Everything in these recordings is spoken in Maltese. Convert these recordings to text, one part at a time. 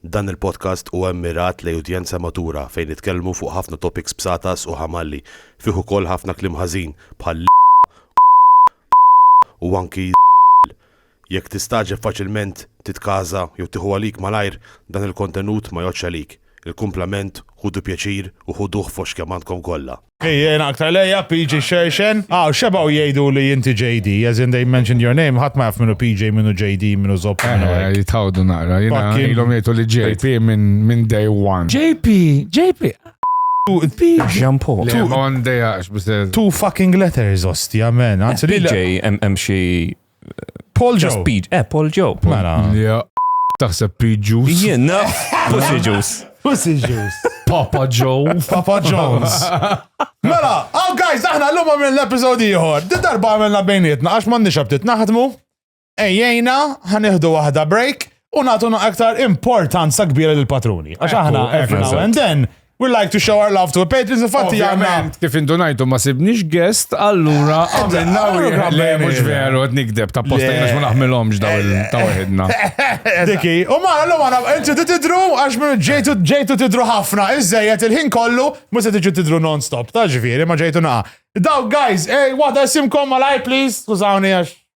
Dan il-podcast huwa mmirat lejn udjenza matura fejn nitkellmu fuq ħafna topics bsatas u ħamalli, fih ukoll ħafna kliem ħażin bħal l, u anki z, jekk tistagħġeb faċilment titkaża jew tieħu għalik malajr dan il-kontenut ma jgħoddx għalik, il-kumplament ħudu pjaċir u ħuduh fost kemm għandkom kollha. Ejjena aktar lejja, PJ Xerxen. Ah, xebaw jgħidu li jinti JD, as in they mentioned your name, ħadd ma jaf minnu PJ, minnu JD, minnu Zopp. Eh, jitħawdu naqra, jina ilom jgħidu li JP minn day one. JP, JP. Jean Paul. Le, on day għax, Two fucking letters, ostja, man. Eh, PJ, hemm xi Paul Joe. Just Pete. Eh, Paul Joe. Mela. Ja, taħseb Pete Juice. Jien, no. Pussy Juice. Pussy Juice. Papa Joe. Papa Jones. Mela, oh guys, aħna l-lum għamil l-episodi jħor. Di darba għamilna bejnietna, għax mandi xabtit naħdmu. Ejjena, ħaniħdu wahda break. u nagħtu aktar importanza kbira lill patruni Għax aħna every now and then We like to show our love to a patrons, infatti għanna. Kif indunajtu ma sibnix guest, allura għamilna u jgħamle mux veru għad nikdeb, ta' posta jgħax ma naħmilomx daw il-ta' uħedna. Diki, u ma għallu għana, inti t-tidru għax minn ġejtu ġejtu tidru ħafna, iżżejjet il-ħin kollu, ma se tiġu tidru non-stop, ta' ġviri, ma ġejtu naqa. Daw, guys, ej, wada simkom malaj, please, skużawni għax.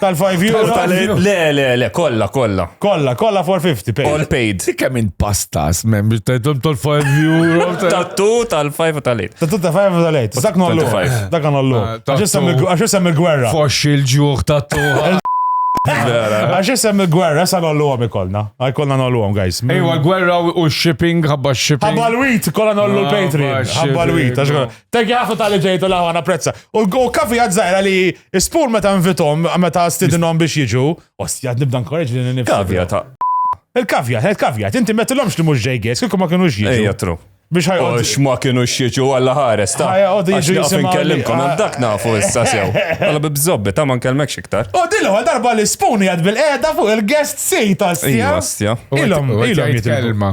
Tal-5 euro. Tal- Le, le, le, kollha, kollha. Kolla, kolla 450 pay. All paid. Dik hemm minn pastas, mem biex tajtom tal-5 euro. ta- Tattu tal-5 u tal-8. Ta' tutta fajf u tal-ejt. Dak nollu. 25. Dak nollu. Ah, ta' Għax jissem tu. il- għax jissem il-gwerra. Foxx il-ġuħ ta' tuħa. Għax jissem il-gwerra, sa nollu għom ikolna. Għaj kollna nollu għom, guys. Ejwa, l-gwerra u shipping, ħabba shipping. Ħabba l-wit, kolla nollu Ah, l-Patreon. baxxi, Ħabba l-wit. għax bro. kolla- Thank you ħafna tal-li ġejtu laħu għana prezza. U l- u kafi għadżajra li Ispur meta nvitom, meta stidinhom biex jiġu, ostja nibda nkoreġ li nifsi. Kavja ta' Il-kavja, għed kavja, inti metilhomx li mhux ġejgħis, kieku ma kienux jiġu. Ejja tru. Biex ħajqod. Għax ma kienu xieġu għalla ħares ta' Ħajqgħodu jiġu għax naqaf jisimgħu li- nkellimkom hemm dak nafu issa sew. Għalla bibżobbi ta' ma nkellmekx iktar. U din l-ewwel darba li spuni għad bil-qeda fuq il-guest seat, Ejja, ostja. ostja. U għed- Ilhom, u għed ilhom jgħid jitilbu. kelma.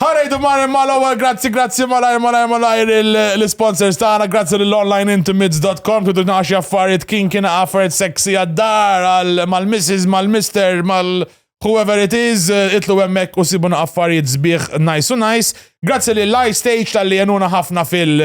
Ħarajdu mar imma l-ewwel grazzi grazzi malajr malajr malajr l-sponsors tagħna grazzi l onlineintimates.com kidu naxi affarijiet kien kien affarijiet sexy għad-dar għal mal-misses mal-mister mal whoever it is itlu hemmhekk u sibuna affarijiet sbieħ nice u nice. Grazzi l iStage tal-li jenuna ħafna fil-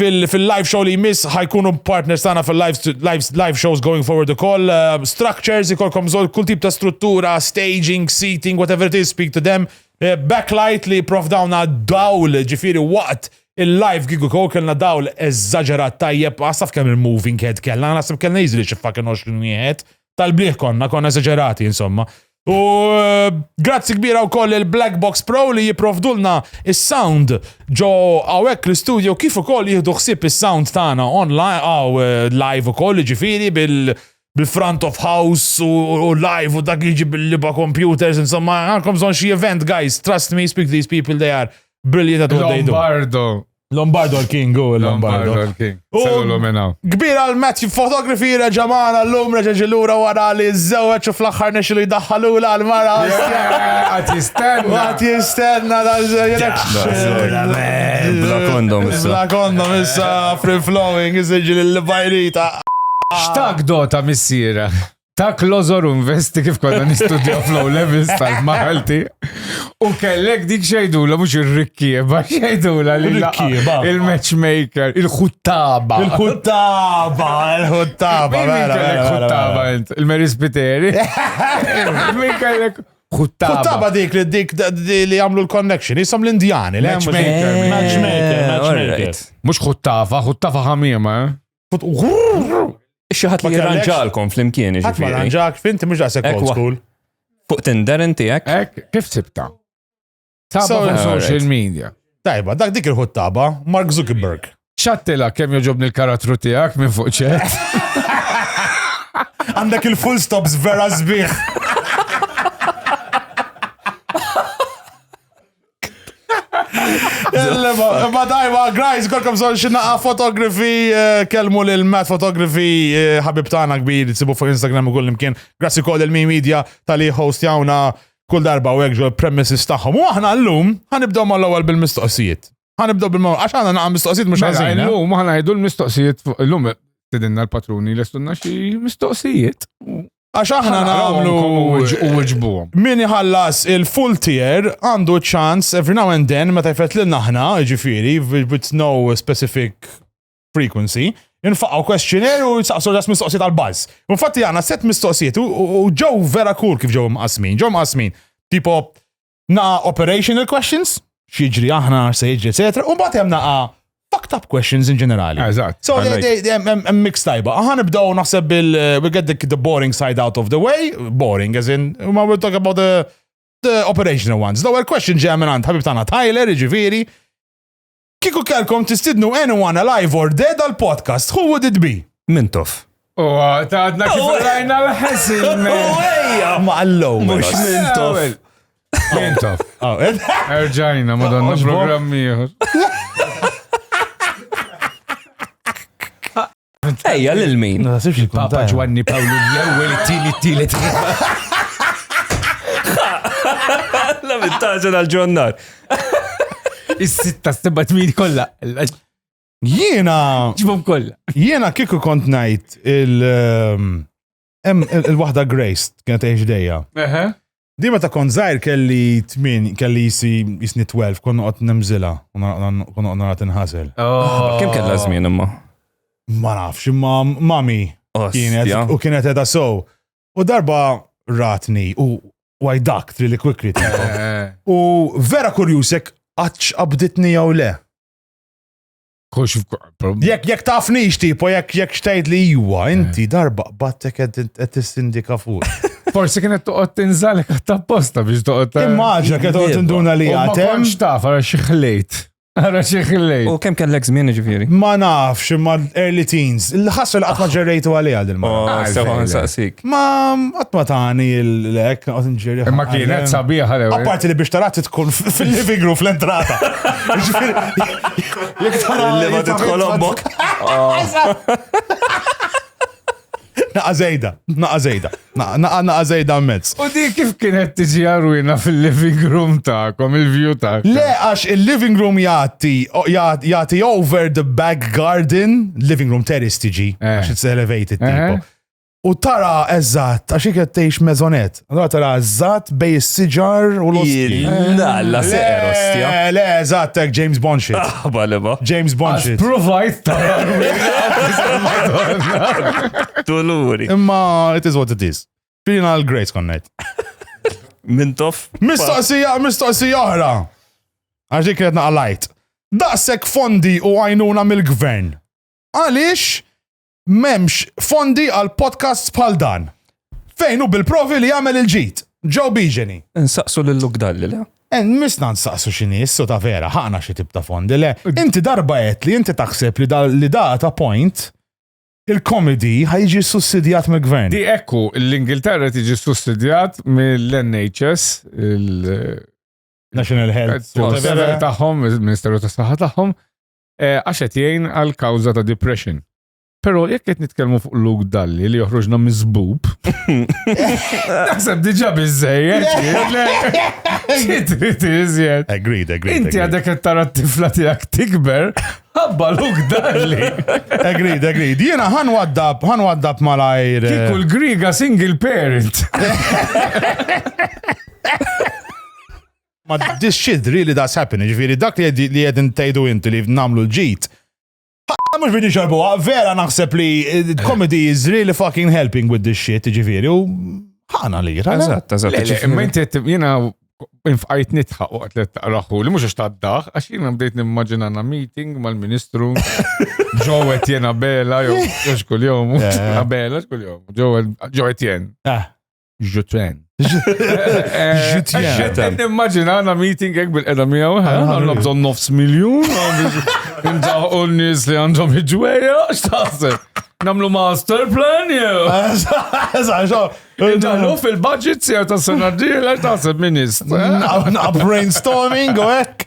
fil-live show li jmiss ħajkunu partners tagħna fil-live shows going forward ukoll. Uh, structures ikolkom żol kull tip ta' struttura, staging, seating, whatever it is, speak to them. Uh, backlight li prof dawna dawl ġifiri waqt il-live gigu kow kellna dawl eżaġerat tajjeb, għasaf kemm il-moving head kellna, għasaf kellna jizli xi fucking 20 wieħed. Tal-blieh konna, konna eżaġerati insomma. U grazzi kbira wkoll il-Black Box Pro li jipprovdulna is-sound ġo hawnhekk l-istudio kif ukoll jieħdu ħsieb is-sound tagħna online għaw live ukoll ġifieri bil- bil-front of house u live u dak jiġi bil-liba computers, insomma, għandkom bżonn xi event, guys, trust me, speak to these people, they are brilliant at what they do. Lombardo, Lombardo l-King, u l-Lombardo. l-King. Selu minna. Kbir għal Matthew Photography reġa maħna l-lum reġa ġilura wara li z-zewċ u fl-axħar nexi li daħħalu l-mara. Għat jistenna. Għat jistenna da z-zewċ. Bla kondom issa. Bla kondom issa free flowing iżġi l-bajrita. Xtaq dota missira. ta' klożor investi kif konna nistudjaw flow levels tal-Malti. U kellek dik xejdula mhux ir-rikkieba, xejdula li l-rikkieba. Il-matchmaker, il-ħuttaba. Il-ħuttaba, il-ħuttaba. Il-ħuttaba, il-Mary Spiteri. Min kellek Kuttaba. Kuttaba dik li dik li għamlu l-connection, jisom l-Indjani. Matchmaker. Eh, matchmaker. Mux kuttaba, kuttaba ħamima. Eh? Xaħat li jirranġalkom fl-imkien. Għat ma ranġak, finti mux daqsek old school. Fuq Tinder inti ek? Ek, kif sibta? Saba fuq social media. Tajba, dak dik il-ħut taba, Mark Zuckerberg. ċattila kem joġobni l-karattru tijak minn fuq ċet. Għandek il-full stops vera zbiħ. Ma dajma, grajs, kolkom zon xinaqa fotografi, eh, kelmu lil Matt Fotografi, eh, ħabib tana kbir, sibu fuq Instagram u kull imkien. Grazzi kod il-Mi Media tal-li host jawna kull darba u għegġu l-premises taħħom. U aħna l-lum, ħanibdaw ma l-ewel bil-mistoqsijiet. Ħanibdaw bil-mawr, għax għana naqa mistoqsijiet mux mela, għazin. Eh? L-lum, ħana jdu l-mistoqsijiet, l-lum, tidinna l-patruni l-estunna xie mistoqsijiet. Għax aħna nagħmlu u wġbuhom. Min iħallas il-full tier għandu ċans every now and then meta jfet lil naħna, ġifieri, with no specific frequency, infaqaw questionnaire u saqsu ġas mistoqsijiet għal buzz. Infatti għana set mistoqsijiet u ġew vera kur kif ġew mqasmin, ġew mqasmin. Tipo, naqa operational questions, xieġri aħna se jiġri, etc. U mbagħad hemm naqa fucked up questions in ġenerali. Eżatt. So hemm mix tajba. Aħna nibdew naħseb bil eh, we get the, the boring side out of the way, boring as in ma we'll talk about the the operational ones. L-ewwel question ġeja minn għand ħabib tagħna Tyler, jiġifieri Kieku kellkom tistidnu anyone alive or dead għal podcast, who would it be? Mintof. U ta' għadna kif għajna l-ħesin. Ejja! Ma għallow. Mux mintof. Mintof. Oh, eh? Erġajna, madonna programmi. Ejja, lil min? Ma nasibx li Papa kuntajn. Ġwanni Pawlu l-ewwel it-tieni t-tielet. La mintaġa dal-ġonnar. Is-sitta, s-sebba tmin kollha. Jiena, Ġibhom kollha. jiena kieku kont najt il- ehm, Hemm il-waħda Grace kienet tgħix dejja. Di meta kont żgħir kelli tmin, kelli jisi jisni 12, kont noqgħod nemżilha, kont noqgħod nara tinħasel. Oh. Kemm kellha żmien imma? Ma nafx, imma mami kienet u kienet edha sow. U darba ratni u why duct really quickly. Eh. U vera kurjusek għatx qabditni jew le. Kux Jek jek tafni tipo, jek jek xtajt li jwa, eh. inti darba battek għed t-sindika fuq. Forsi kienet toqgħod tinżalek għat-tapposta biex toqgħod. Eh, Immaġa kienet toqgħod tinduna li għatem. Ma konx taf għara xi ħlejt. Għara xi ħlejt. U kemm kellek żmien ġifieri? Ma nafx imma early teens. Il-ħassu li qatt ma ah. ġerrejtu għalih għal il-mara. Oh, ah, sewa nsaqsik. Ma qatt ma tani l-lek qed nġerri. Imma kienet sabiħa l Apparti li biex tarat tkun fil-living room fl-entrata. Jek tara li ma tidħolhom bok. Naqa zejda, naqa zejda, naqa naqa zejda mezz. U di kif kienet tiġi għarwina fil-living room ta'kom, il-view ta' Le, għax il-living room jati, jati over the back garden, living room terrace tiġi, eh. għax it's elevated eh. tipo. U tara eżatt, għax iket tgħix mezonet. Allora tara eżatt bej is-siġar u l-osti. Nalla seqer ostja. Le, le, eżatt hekk James Bond shit. Aħba li ma. James Bond shit. Provajt tara. Tuluri. Imma it is what it is. Filina l-Grace konnejt. Min tof. Mistoqsija, mistoqsija oħra. Għax dik kredna għalajt. Daqsek fondi u għajnuna mill-gvern. Għaliex M'hemmx fondi għal podcasts bħal dan. Fejn hu bil-provi li jagħmel il-ġid. Joe Bigeni. Nsaqsu lil Luke Dalli, le? En eh, misna nsaqsu xini, issu ta' vera, ħana xi tip ta' fondi, le? Inti darba qed li inti taħseb li da li da ta' point il-komedi ħajġi sussidjat mill-gvern. Di ekku, l-Ingilterra tiġi sussidjat mill-NHS, il- National Health. Taħħom, il-Ministeru ta' Saħħa taħħom, Eh, għax qed jgħin għal kawża ta' depression. Però jekk qed nitkellmu fuq luk dalli li joħroġna miżbub, naħseb diġà biżejjed. Agreed, agreed. Inti għadek qed tara t-tifla tiegħek tikber, ħabba luk dalli. Agreed, agreed. Jiena ħan waddab, ħan waddab malajr. Eh. Kikul griga single parent. Ma this shit really does happen, ġviri dak li jed intajdu inti li namlu l-ġit. Ħa mux bini xarbu, vera naħseb li eh, comedy is really fucking helping with this shit, ġviri, u ħana li jira. Eżatt, eżatt. Imma inti jina infqajt nitħaq waqt li taqraħu li mux xtaddaħ, għax jina bdejt nimmaġina na meeting mal-ministru, ġowet jena bela, jox kull-jom, bela, kull-jom, ġowet jen. Ah. Jutren. Jutren. Immaġina għana meeting għek bil-edha miegħu, għanna bżon nofs miljon, għanna u n-nis li għandhom iġweja, xtaħseb. Namlu master plan jew. Indalu fil-budget sew ta' sena d-dieħla taħseb minist. Naqqa brainstorming u hekk.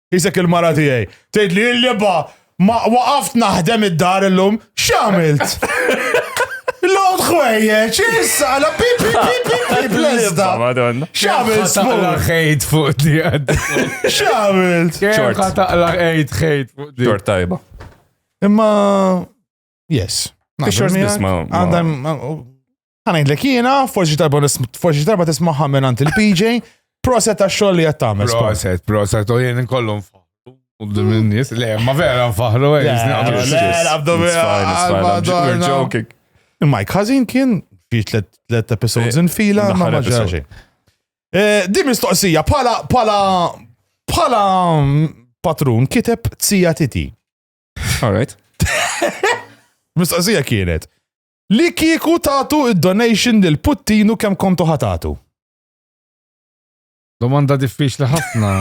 Isek il-mara tiegħi. Tgħid li l-liba ma waqaft naħdem id-dar illum, x'għamilt? Lod ħwejjeġ, issa, la pipi, pipi, pipi, lezda. Xamil taqla ħejt fuq di għad. Xamil. Xorta taqla ħejt ħejt fuq di. Xorta tajba. Imma Yes. Pictures miegħek. Għandhom. Għanajdlek jiena, forsi darba forsi darba tismaħħa minn għand il-PJ, proset għax xogħol li qed tagħmel. Proset, proset, u jien inkollu nfaħru. Qudiem in-nies, le, ma vera nfaħru, eh, Il-Mike Hazin kien fi tlet episodes eh, in fila, ma maġġaġi. Eh, di mistoqsija, pala, pala, pala mm, patrun kiteb tzija titi. All right. Mistoqsija kienet. Li kieku tatu id-donation lil Puttinu kemm kontu ħatatu? Domanda diffiċli ħafna.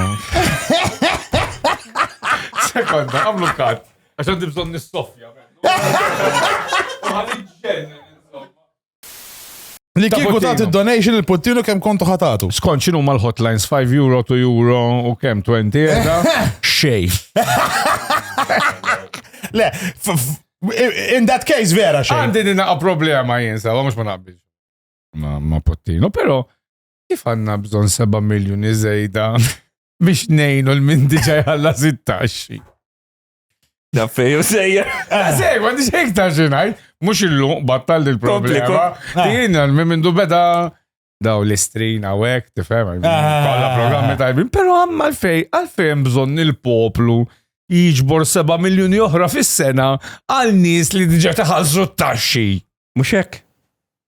Sekonda, għamlu kat. Għaxan dibżon nissofja. Li kieku tagħti donation il-puttinu kemm kontu ħatatu. Skont x'inhu mal-hotlines 5 euro, 2 euro u kemm 20 euro? Xej. Le, in that case vera xej. Għandi din naqa' problema jien sa, mhux ma naqbilx. Ma ma puttinu, però kif għandna bżonn 7 miljuni żejda biex nejnu l-min diġa jħalla 16. Daffeju sejja. Ah, Sej, ma nix hekk ta' xinaj. Mux illu battal il problema ah. Din għal minn mindu beda daw l-istrin għawek, tifem, ah. kolla programmi tajbin, pero għamma għalfej, għalfej bżon il-poplu jiġbor 7 miljoni oħra fis-sena għal nies li diġa taħalsu t-taxxi. Muxek.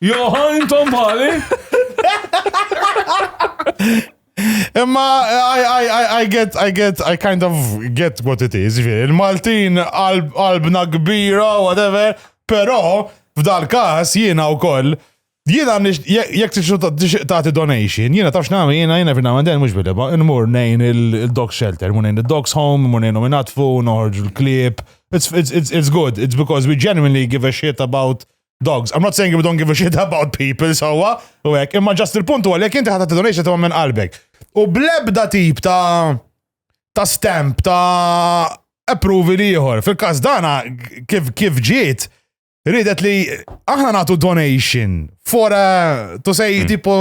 Joħa, intom bħali? Imma I, I, I, I get, I get, I kind of get what it is, ġviri. Il-Maltin qalbna kbira, whatever, pero f'dal kas jiena u koll, jiena jek tagħti donation, jiena tafx nagħmel jiena jiena fina għandel mhux bileba, nmur nejn il-dog shelter, mur nejn il-dogs home, mur nejn nominatfu, noħorġ il-klib. It's, it's, it's, it's good, it's because we genuinely give a shit about dogs. I'm not saying we don't give a shit about people, sowa, u hekk, imma ġast il-punt huwa li jekk inti ħadd donation ta' minn qalbek. U blebda tip ta' ta' stamp ta' approvi liħor. Fil-każ dana kif kif ġiet ridet li aħna nagħtu donation for a, to say mm. tipo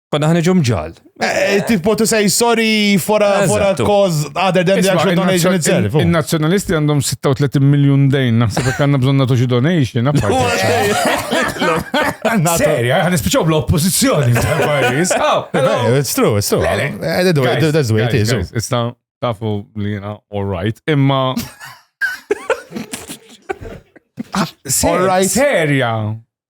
Konna ħanġu mġal. Eh, tipo to say sorry for a, for a cause other than the actual donation itself. Oh. Il-nazjonalisti għandhom 36 miljon dejn, naħseb jekk għandna bżonn nagħtu xi donation. Serja, għan ispiċaw bl-oppożizzjoni. It's true, it's true. That's the way it is. Oh. Issa tafu li jena all right, imma. All right. Serja.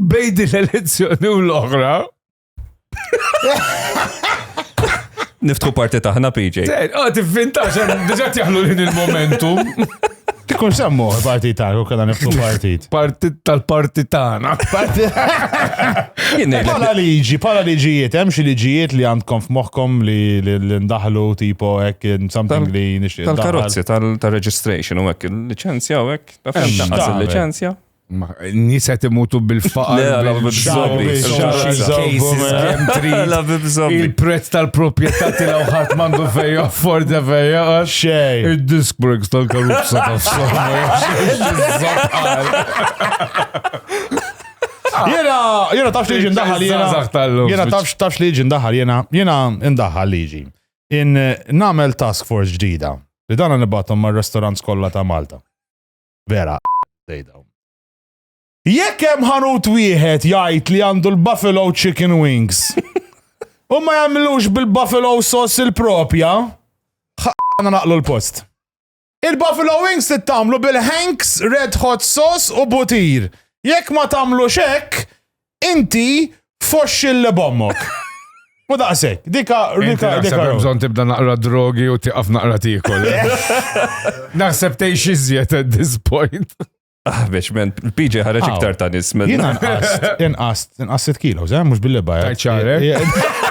Bej din l-elezzjoni u l-oħra. Niftħu parti taħna PJ. Ah, tivvinta xan, diġa tjaħlu din il-momentum. Tikun semmu parti taħna, u kalla niftħu partit. Partit tal-parti taħna. Pala liġi, pala liġijiet, hemm xi liġijiet li għandkom f'moħħkom li l-indaħlu tipo hekk something li nixtieq. Tal-karozzi, tal-registration u hekk, il-liċenzja u hekk, tafhem il-liċenzja. Nis qed imutu bil-faqar. Il-prezz tal-proprjetà tiegħu ħadd m'għandu fejn afforda fejn jaqgħad. Xejn. Id-disk breaks tal-karuzza tafsu. Jena, jena tafx liġi ndaħal jena. Jena tafx tafx liġi ndaħal jena. Jena ndaħal liġi. In namel task force ġdida. Li dana nibatom mar-restaurants kollha ta' Malta. Vera sejda. Jekk hemm ħanut wieħed jgħid li għandu l-Buffalo Chicken Wings. U ma jagħmlux bil-Buffalo Sauce il-propja, ħana naqlu l-post. Il-Buffalo Wings tittamlu bil-Hanks Red Hot Sauce u butir. Jekk ma tagħmlu xek, Inti foxxil li bommok. U daqsek, dika, dika, dika. Bżon tibda naqra drogi u tiqaf naqra tikol. Naħseb tgħix iżjed at this point. Ah, biex, men, l-PJ ħareġ iktar ta' nis, men. Jina nqast, nqast, nqast 6 kilo, zem, mux billi bajja. Tajt ċarek.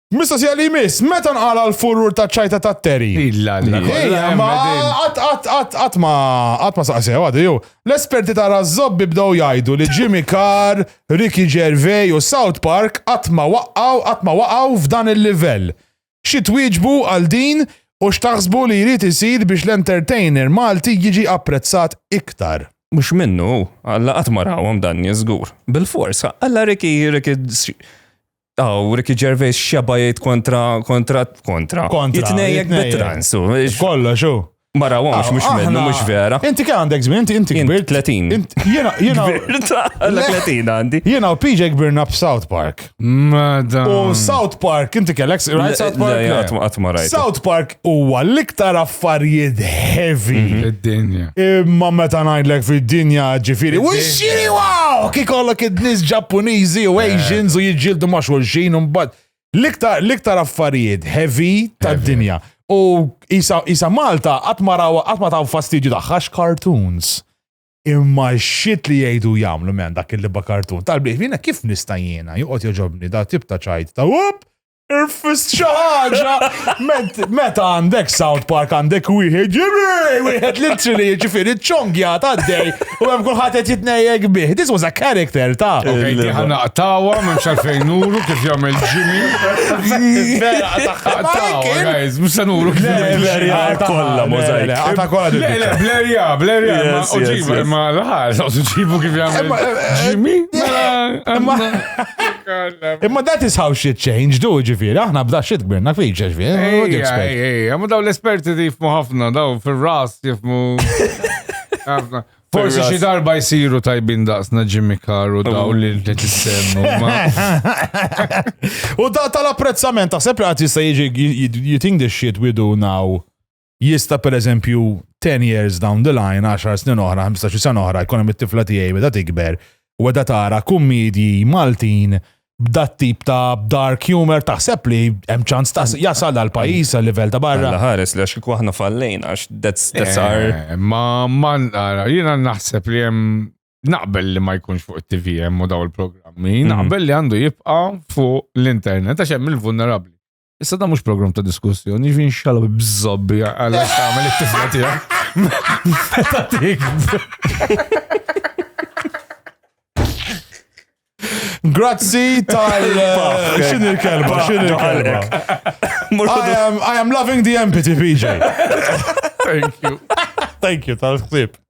Mistoqsija li jmiss, meta nqala l-furur ta' ċajta ta' Terry? Illalla, Ejja, ma qatt qatt qatt qatt ma qatt ma saqsew għadu jew. L-esperti ta' raż-żobbi bdew jgħidu li Jimmy Carr, Ricky Gervais u South Park qatt ma waqqgħu qatt ma waqgħu f'dan il-livell. Xi twieġbu għal din u x'taħsbu li jrid isir biex l-entertainer Malti jiġi apprezzat iktar? Mhux minnu, alla qatt ma rawhom dan nies żgur. Bilfors, alla Ricky Ricky Aw, Ricky Gervais xeba jgħid kontra kontra kontra. Kontra. Jitnejjek bit-trans. Kollo, xu. Mara għomx, mux minnu, mux vera. Inti kien għandek zmin, inti inti kbir. 30. Jena, jena. 30 għandi. Jena u PJ kbirna f'South Park. Madam. U South Park, inti kellek, rajt South Park? Għatma rajt. South Park huwa l-iktar affarijiet heavy. Mhm. Fid-dinja. Imma meta ngħidlek fid-dinja ġifieri, u xiri wow! Kikollok id-nies Ġappuniżi u eh. Asians u jiġġieldu ma' xulxin u mbagħad. L-iktar l-iktar affarijiet heavy tad-dinja. U isa Malta qatt ma raw qatt ma taw fastidju tagħha cartoons. Imma xit li jgħidu jagħmlu men dak il-liba kartun. Tal-biex jiena kif nista' jiena joqgħod joġobni da tip ta' ċajt ta' up Irfist xi ħaġa! Meta għandek South Park għandek wieħed ġirej, wieħed li tri li jiġifieri ċongja ta' dej u hemm kulħadd qed jitnejjek bih. This was a character ta' Ħana qtawa minn xalfejn nuru kif jagħmel Jimmy. Guys, mhux se nuru kif jagħmel kollha możajk. Għata kollha. Blerja, blerja, ma uġibu, ma l-ħar, uġibu kif jagħmel Jimmy. Imma that is how shit change, do ġifiri, aħna bda shit kbirna fi ġifiri. Ejja, ma daw l-esperti jifmu ħafna, daw fil-ras jifmu. Forsi xi darba jsiru tajbin daqsna Jimmy Carr u daw li li tissemmu. U da tal-apprezzament, taħseb li għad jista' jiġi, you think this shit we do now jista per eżempju 10 years down the line, 10 snin oħra, 15 sena oħra, jkun hemm it-tifla tiegħi beda tikber u beda tara kummedji Maltin b'dat tip ta' dark humor taħseb li hemm ċans ta' jasal għal pajjiż għal livell ta' barra. Alla ħares li għax aħna fallejn għax that's that's eh, our. Ma ma jiena naħseb li hemm naqbel li ma jkunx fuq it-TV hemm u daw il-programmi, mhm. naqbel li għandu jibqa' fuq l-internet għax hemm il-vulnerabbli. Issa da mux program ta' diskussjoni, ġvin xalab bżobbi għalla xamil it-tifla tija. Meta tik. Grazzi tal. Eh, xin il-kelba, xin il-kelba. I am loving the empathy, PJ. Thank you. Thank you tal-ħsib.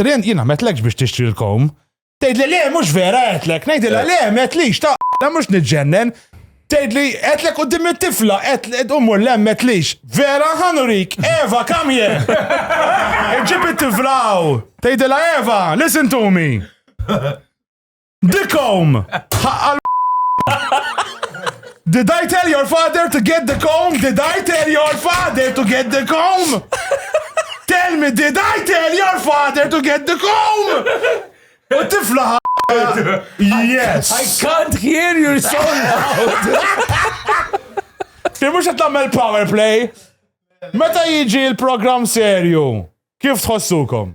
Rien, jien għametlekx biex tixtri l-kowm. Tgħidli le mhux vera għedtlek, ngħidilha le m'għedtlix ta' la mhux niġġennen. Tgħidli għedtlek quddiem it-tifla, qed u mmur le m'għedtlix. Vera ħa nurik, Eva come here! Iġġib it-tifla hawn. Tgħidilha Eva, listen to me! Dikom! Ħaqqal Did I tell your father to get the comb? Did I tell your father to get the comb? Tell me, did I tell your father to get the comb? U tifla Yes. I can't hear you so loud. Kif mux għatlammel power play? Meta jiġi il-program serju, kif tħossukom?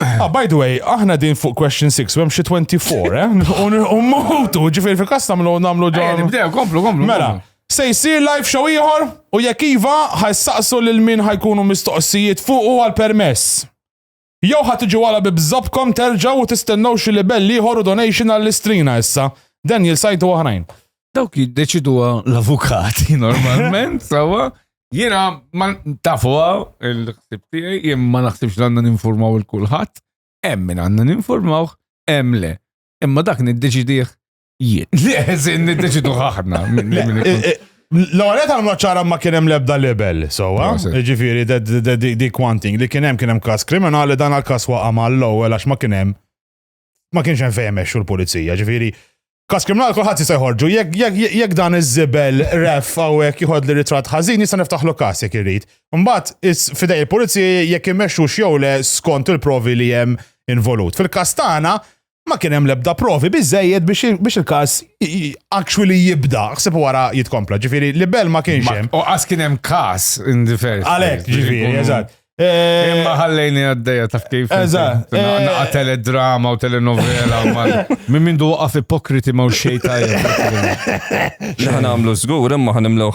Ah, by the way, aħna din fuq question 6, u hemm xi 24, eh? U mutu, ġifieri fil-każ tagħmlu nagħmlu Ejja, ġon. nibdew, komplu, komplu. Mela, komplu. se jsir live show ieħor u jekk iva ħajsaqsu lil min ħajkunu mistoqsijiet fuq u għal permess. Jew ħad tiġu għala bi bżobkom terġgħu u tistennew xi libell ieħor u donation għall-istrina issa. Dan jilsajtu oħrajn. Dawk jiddeċiduha l-avukati normalment, sawa. Jiena ma tafuha il-ħsib tiegħi, jien ma naħsibx li għandna ninformaw il-kulħadd, hemm min għandna ninformaw, hemm le. Imma dak niddeċidih jien. Leżin niddeċidu ħaħna. L-għalet għal maċċara ma kienem lebda libel, sowa, ġifiri, di kwanting li kienem kienem kas kriminali dan għal kas waqa ma l-ewel għax ma kienem ma kienx hemm fejn mexxu l-pulizija, ġifieri Kas kriminal kulħadd jista' jħorġu, jekk dan iż-żibel ref hawnhekk jħod li ritratt ħażin jista' niftaħlu kas jekk irid. Mbagħad fidej il-pulizija jekk imexxu xew le skont il-provi li hemm involut. Fil-kas tagħna ma kien hemm l-ebda provi biżejjed biex il-każ actually jibda, ħsib wara jitkompla, ġifieri libel ma kienx hemm. U qas kien hemm każ in the first. Għalhekk, ġifieri, eżatt. Eh, Imma ħallejni għaddeja taf kif. Eżatt. Naqa eh, teledrama u telenovela. Minn minn du għaf ipokriti ma' xej tajja. Xaħan għamlu zgur, imma ħan imlu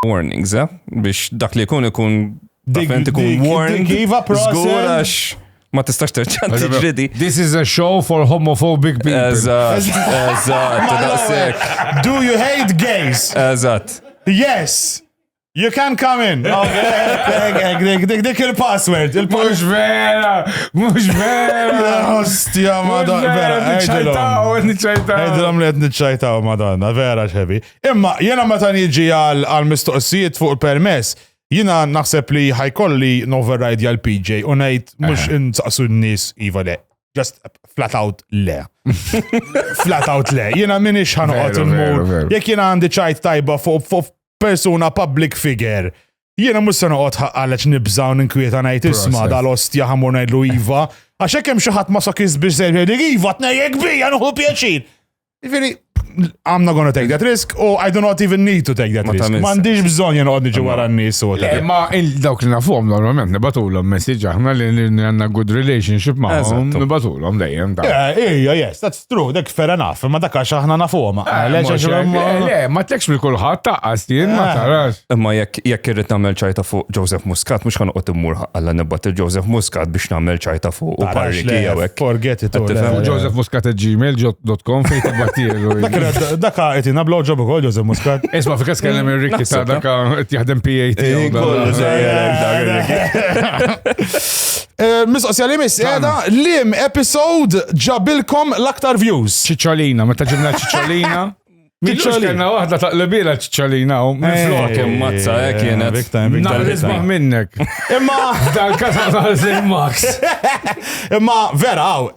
warnings, eh? Biex dak li kun ikun. Dikment ikun warning. Iva proċess. Ma tistax terċan tiġridi. This is a show for homophobic people. Eżatt, eżatt, Do you hate gays? Eżatt. Yes. You can come in. Dik il-password. Mux vera, mux vera. Ostja, madan. Vera, nċajtaw, nċajtaw. Għedilom li għed nċajtaw, madan. Vera, xebi. Imma, jena meta niġi għal-mistoqsijiet fuq il-permess, jina naħseb li ħajkolli n-override jgħal PJ u najt mux eh. insaqsu n-nis iva le. Just flat out le. flat out le. Jina minix ħanqot il-mur. Jek jina għandi ċajt tajba fuq persuna public figure. Jiena mhux se noqgħod ħaqqalex nibża' u ninkwieta ngħid isma' dal-ostja ħamur ngħidlu iva, għax hekk hemm xi ħadd ma sokis biex se jgħidlek iva tnejjek bija nuħu pjaċir. Jiġifieri, I'm not gonna take that risk u I do not even need to take that risk. Ma għandix bżonn jien noqgħod niġi wara n-nies u Ma dawk li nafuhom normalment nibatulhom messaġġ aħna li għandna good relationship magħhom nibatulhom dejjem. Ejja, yes, that's True, dek fair enough, imma dak għax aħna nafuhom. Ah, Le, mhux għax- hekk. ma- Le, le, ma tekx li kulħadd taqqas jien ma Ah. tarax. Imma jekk jekk irrid nagħmel ċajta fuq Joseph Muscat, mhux ħanoqgħod immur ħalla nibgħat il Joseph Muscat biex nagħmel ċajta fuq u Tarax, parriki le, jew hekk. Forget it. Qed tifhem? le. Joseph Muscat at gmail.com fejn tibbattielu. Dak ra- Dak qed jingħab blowjob ukoll Joseph Muscat. Isma' fi każ kellem ir-rikki ta' Naħseb, dak qed jaħdem PAT. Eh, kollu ġej, eh, dak, dak, Eh, Mistoqsija li miss, għada, lim episode ġabilkom l-aktar views. Ċiċolina, meta ġibna ċiċolina. Ċiċolina. Kena wahda ta' l-bila ċiċolina u minn eh, flok. Kim mazza, eh, kienet. Big time, big time. Naqlisbaħ minnek. Imma. Dal-kasa naqlis il-max. Imma, vera, għaw,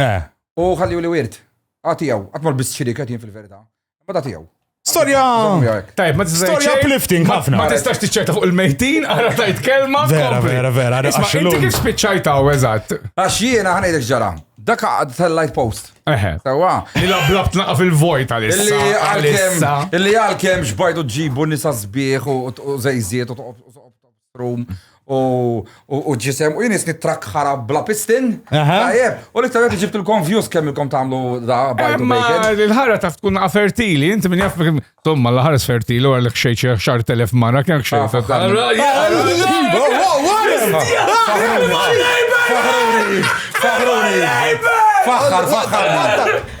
Eh. U ħalli li wirt. Għatijaw, għatmar bis xiriket jien fil-verita. Ma da tijaw. Storja! Tajb, ma tistax. Storja uplifting ħafna. Ma tistax tiċċerta fuq il-mejtin, għara tajt kelma. Vera, vera, vera. Isma, inti kif spiċċajtaw, eżatt. Għax jiena ħanejdek ġara. Dak għad tal-light post. Eħe. Tawa. Li la blab tnaqa fil-vojt għalissa. Illi għal-kem, illi għal-kem xbajdu ġibu nisa zbieħ u zejziet u room u u ġisem u jinis nitrak ħara bla pistin. Aha. Tajjeb, u li tajjeb ġibt il-kom views kemm il-kom tagħmlu da bajtu Imma bacon. l-ħara taf tkun naqa fertili, inti minn jaff kemm- Tomma l-ħares fertili u għalek xejn xi xar telef mara kemm xejn. Ah, ta- ta- Ara, Wow, ja- wow, wow, wow. Faħruni, faħruni, faħruni. Faħħar, faħħar.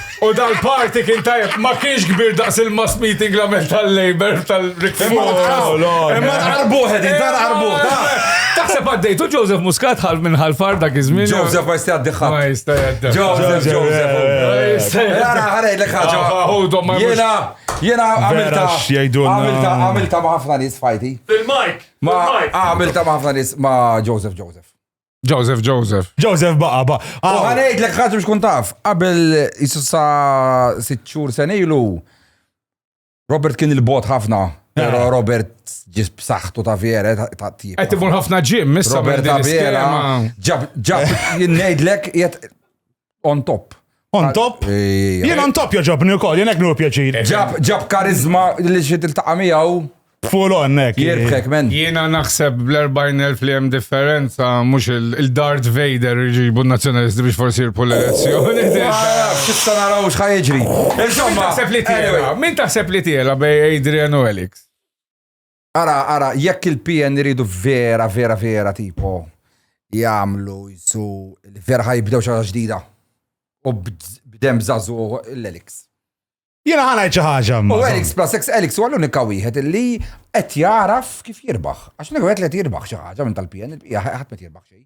U dal-party kien tajjeb, ma kienx kbir daqs il-mass meeting la mel tal-Labour tal-Rick Imma qarbuħ edin, dar qarbuħ. Taħseb għaddejtu Joseph Muscat ħal minn ħal far dak iż-żmien. Joseph ma jista' għaddi ħadd. Ma jista' għaddi. Joseph, Joseph. Għara, għara, jlek ħagġa. Jena, jena għamilta. Għamilta, għamilta ma ħafna nis fajti. Fil-mike. Ma għamilta ma ħafna nis ma Joseph, Joseph. Joseph, Joseph. Joseph baqa, baqa. U Aw, ħanejt l ħadd biex kun taf, qabel jisu sa sitt xhur sen ilu, Robert kien il-bot ħafna, pero Eh. Robert ġis b'saħħtu ta' vjere ta' ta' tip. Qed imur ħafna ġim, issa Robert minn din Abela, l-iskema. ġab, ġab, jinnejdlek, jett, on top. On top? Jien on top joġobni wkoll, jien hekk nur pjaċir. Ġab ġab karizma li xi tiltaqa' miegħu. Full on hekk. Jirbħek men. Jiena naħseb bl-40,000 li hemm differenza mhux il-Darth Vader iġibu n-nazzjonalisti biex forsi jirpu l-elezzjoni. Xista naraw xħaj jiġri. Insomma, taħseb li tiela. Min taħseb li tiela bej Adrian u Alex? Ara, ara, jekk il-PN iridu vera, vera, vera tipo jagħmlu jsu vera ħajbdew xi ħaġa ġdida. U bdem żażu l-Elix. Jiena ħana xi ħaġa. U Elix plus ex Elix huwa l-unika wieħed li qed jaraf kif jirbaħ. Għax nek qed li jirbaħ xi ħaġa minn tal-PN, ħadd ma jirbaħ xejn.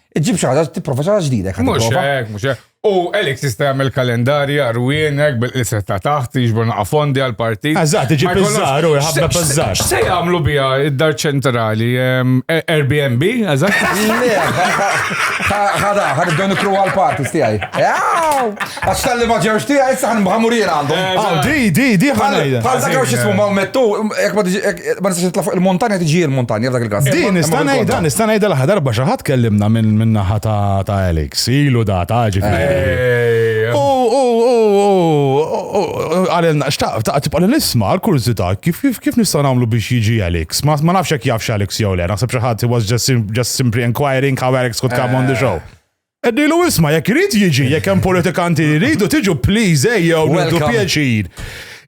Iġib xi ħaġa tipprova xi ħaġa ġdida. Mhux hekk, mhux hekk. U Alex jista' jagħmel kalendarji arwienek bil-qisem ta' taħt jiġbor naqa' fondi għal partit. Eżatt, iġib iż-żar u jħabba piż-żar. Se jagħmlu biha id-dar ċentrali ehm, Airbnb, eżatt. Ħada, ħadibdew nikru għal parties tiegħi. Għax tal-li ma ġewx tija, issa għan bħamurina għandhom. Eh, ah, di, di, di ħanajda. Għal dak għax jismu ma' mettu, jek ma nistax nitla fuq il-montanja tiġi il-montanja f'dak il-kas. Di, nistanajda, nistanajda l-ħadar baxa ħat kellimna minn naħa ta' Alex, ilu da ta' ġifiri. U, u, u, u, għalilna, xtaq, ta' tibqa l-isma, għal-kurzita, kif kif nistaw namlu biex jiġi Alex? Ma nafx jek jafx Alex jew le, naħseb xaħat, he was just simply inquiring how Alex could come on the eh. show. Eddilu isma, jekk irid jiġi, jekk hemm politikanti li jridu tiġu please ejjew eh, nagħtu pjaċir.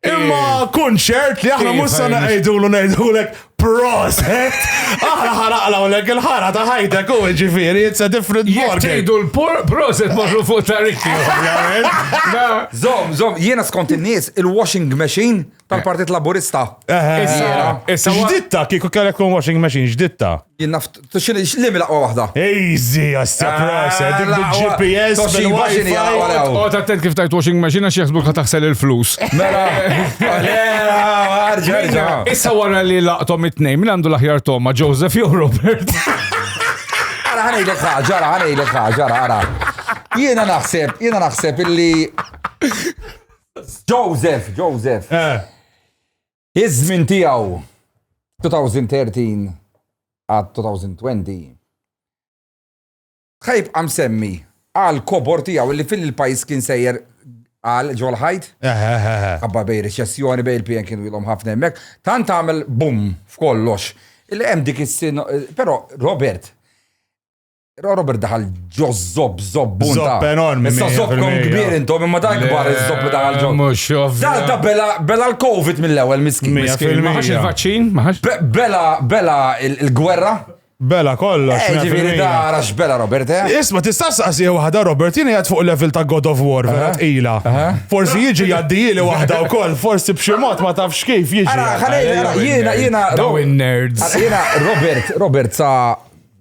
Imma eh. kun ċert li aħna mhux sa ngħidulu ngħidulek proset. Aħna ħaraqla u lek il-ħara ta' ħajtek u ġifieri it's a different ball. Jgħidu l-proset marru fuq ta' rikki, ovvjament. Zom, zom, jiena skont in-nies il-washing machine tal-Partit Laburista. Issa ġditta, kieku kellek kun washing machine, ġditta. Jien naf, xini, xlimi laqwa wahda. Easy, għastja ah, prasa, dik bil-GPS, bil-wifi. O, ta' tent kif tajt washing machine, għax jaxbuk ta' taħsel il-flus. Mela, Issa wara li laqtom it-nej, minn għandu l-aħjar Toma, Joseph jew Robert. Għara ħanejlek ħagġa, għara ħanejlek ħagġa, għara. Jiena naħseb, jiena naħseb illi Joseph, Joseph. Eh. Iż-żmien tiegħu 2013 għad 2020 ħajb għam semmi għal kobor tijaw li fil-pajis kien sejjer għal ġol ħajt. Għabba bej reċessjoni bej il-PN kienu jilom ħafna emmek. Tant għamil bum f'kollox. Il-għem dik is-sin, pero Robert, Robert daħal ġo zob zob bunta. Zob enormi. Issa zob kon kbir intom, imma dan kbar zob li daħal ġo. Mux Da da bela bela l-Covid mill-ewel miskin. Miskin, maħax il-vaċċin, maħax. Bela bela il-gwerra. Bela kollox. Eh, ġiviri da rax bela Robert, eh? Isma, tistax saqsi wahda Robert, jini għad fuq level ta' God of War, vera tqila. Forsi jiġi jaddi li wahda u koll, forsi bximot ma tafx kif jiġi. Jena, jena, jena. Daw in-nerds. Jena, Robert, Robert sa'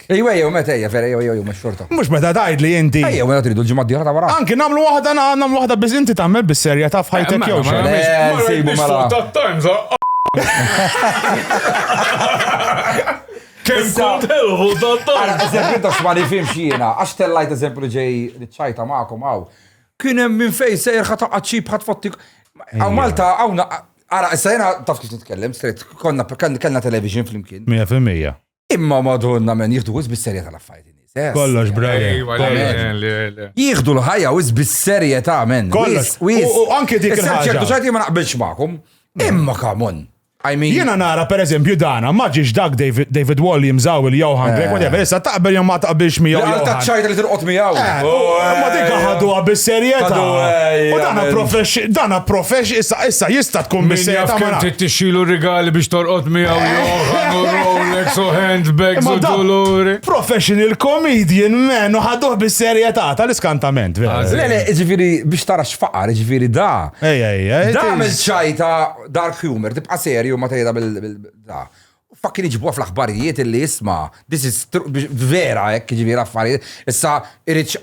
hekk. Ejjew, ejjew, meta ejja, vera, ejjew, ejjew, mhux xorta. Mhux meta tgħid li inti. Ejjew, meta tridu l-ġimgħa d-dieħla ta' wara. Anki nagħmlu waħda nagħmlu waħda biss inti tagħmel bis-serja ta' f'ħajtek jew xejn. Mela, sejbu mela. Tat-Times, Kemm kont ħelħu tat-Times. Eżempju ta' xmani fim xina, għax tellajt eżempju li ġej li ċajta magħkom hawn. Kien hemm minn fejn sejr ħata qaċċib ħadd fottik. Għaw Malta hawn Ara, issa jena taf kif nitkellem, straight, konna kellna television flimkien. 100%. Imma madonna men jieħdu wis bis-serjetà l-affarijiet in-nies. eh, Kollox, brother. Ejwa, le, kollox. le, le, le. Jieħdu l-ħajja wis bis-serjetà men. Kollox. Wis, wis. U- u anke dik Issa il-ħaġa. ċertu ċerti ma naqbilx magħkom. Imma kamon. I mean, Jiena nara per eżempju dana, ma ġiex dak David, David Williams għaw il-Johan Greg, whatever, issa taqbel jew ma taqbilx miegħu. għal ta' Johan. ċajta li tirqot miegħu. Eh, u- Ma dik ħaduha bis-serjetà. Ħadu, eh, U dana jgħamil. profex, dana profex, issa issa jista' tkun Min jaf bis-serjetà ma kemm naf. trid tixxilu rigali biex torqod miegħu Oħanu Rolex u handbags u doluri. Professional comedian, man, u ħadduħ bis-serjetà tal-iskantament. Le, le, ġifiri, biex tara xfaqar, ġifiri, da. Ej, ej, ej. Da għamil ċajta dark humor, tibqa serju ma tajda bil-da. Fakkin iġbuħ fl-axbarijiet illi jisma, this is vera, ek, ġifiri, affarijiet. Issa, irriċ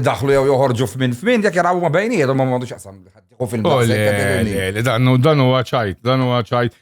daħlu jew joħorġu f'min f'min, jek jarabu ma bejniet, ma ma għandux jaqsam. U fil-maqsam. Dan huwa ċajt, dan huwa ċajt.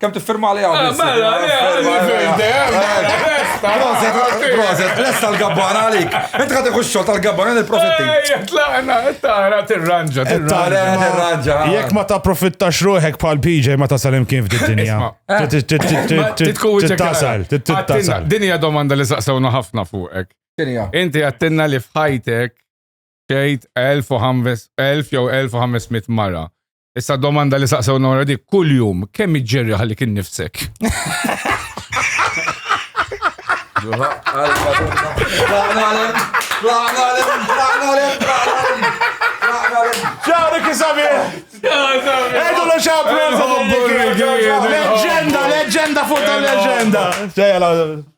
Kem tiffirma għalija għadis? Mela, Proset, proset, lesta l-gabban għalik. Inti għati xol tal-gabban għan il-profitti. Tlaqna, tara, tirranġa, tirranġa. Jek ma ta' profitta xruħek pal PJ ma ta' salim kif di dinja. Tittasal, tittasal. Dinja domanda li saqsawna ħafna fuqek. Inti għattinna li fħajtek xejt 1000 jew 1500 mara. Issa domanda li saqsew nora dik kull jum kemm iġġerri ħalli kien nifsek. Ġawri kisabi! Edu lo xabru! Leġenda, leġenda fuq tal-leġenda!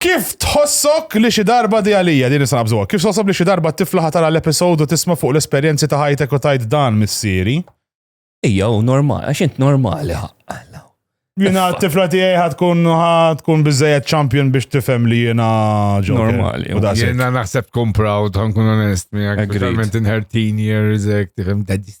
Kif tħossok li xi darba di għalija din nista' nabżuha? Kif tħossok li xi darba t-tifla ħatara l-episod u tisma' fuq l-esperjenzi ta' ħajtek u tgħid dan missieri? Ija u normal, għax int normali ħaqqalla. Jina t-tifla tiegħi ħad tkun ħad tkun biżejjed champion biex tifhem li jiena ġo. Normali. U daqshekk. Jena naħseb tkun proud, ħankun onest miegħek. Agreed. Verament in her teen years, ek, tifhem dadis.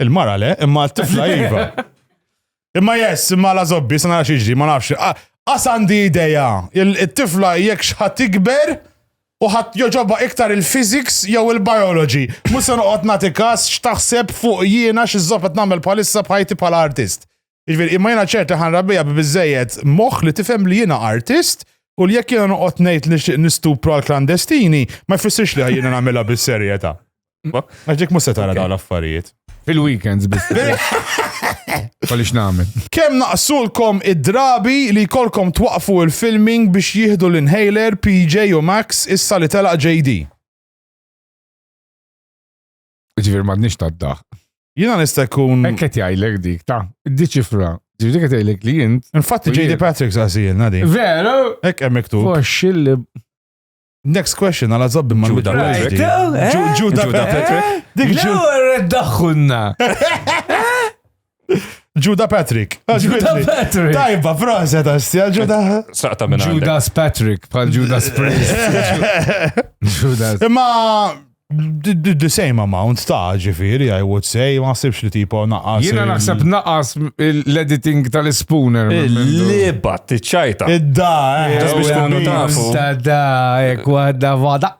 Il-mara le, imma t-tifla iva. Imma jess, imma la zobbi, sa nara xieġri, ma nafx. Għas għandi ideja, il-tifla jekk xħat ikber, u ħat joġoba iktar il-physics jew il-biology. Musa noqgħod nagħti każ x'taħseb fuq jiena xi żoppet nagħmel bħalissa bħajti bħala artist. Jiġifieri imma jiena ċert li ħanrabbija bi biżejjed moħħ li tifhem li jiena artist u li jekk jiena noqgħod ngħid li xtieq nistupru għal klandestini ma jfissirx li jiena nagħmilha bis-serjetà. Għax dik mhux se tara dawn l-affarijiet. Fil-weekends biss. Għaliex nagħmel. Kemm naqsulkom id-drabi li jkollkom twaqfu il-filming biex jieħdu l-inhaler PJ u Max issa li telaq JD. Ġifier m'għadniex tad-daħq. Jiena nista' jkun. Hekk qed jgħidlek dik ta' diċifra. Ġifieri qed jgħidlek li int. Infatti JD Patrick saqsijilna din. Veru? Hekk hemm miktub. Foxx li. Next question għala zobbi ma' Ġuda Patrick. Ġuda Patrick. Dik ġuda. Ġuda Patrick. Juda Patrick. Juda Patrick. Tajba, proset, għastja, Juda. Saqta minna. Judas Patrick, pal Judas Priest. Judas. Imma, the same amount ta' ġifiri, I would say, ma' sibx li tipo naqas. Jena naħseb naqas l-editing tal-spooner. Liba, t-ċajta. Id-da, eh. Biex kunu tafu. Da, ek, eh, wahda, wahda.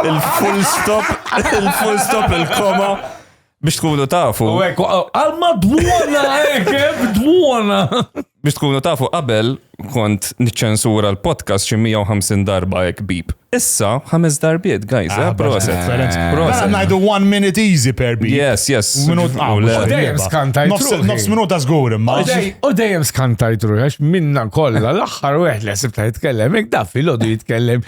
Il-full stop, il-full stop, il-koma. Biex tkunu tafu. U hekk, għalma dmuna, hekk, eh, dmuna. Biex tkunu tafu qabel kont niċċensura l-podcast xi 150 darba hekk bib. Issa ħames darbiet, guys, eh, ah, proset. Proset. Mela ngħidu one minute easy per bib. Yes, yes. Minut dejjem skanta jtruħ. Nofs minuta żgur imma. U dejjem skanta jtruħ għax minna kollha l-aħħar wieħed li ħsib ta' jitkellem, hekk daf il jitkellem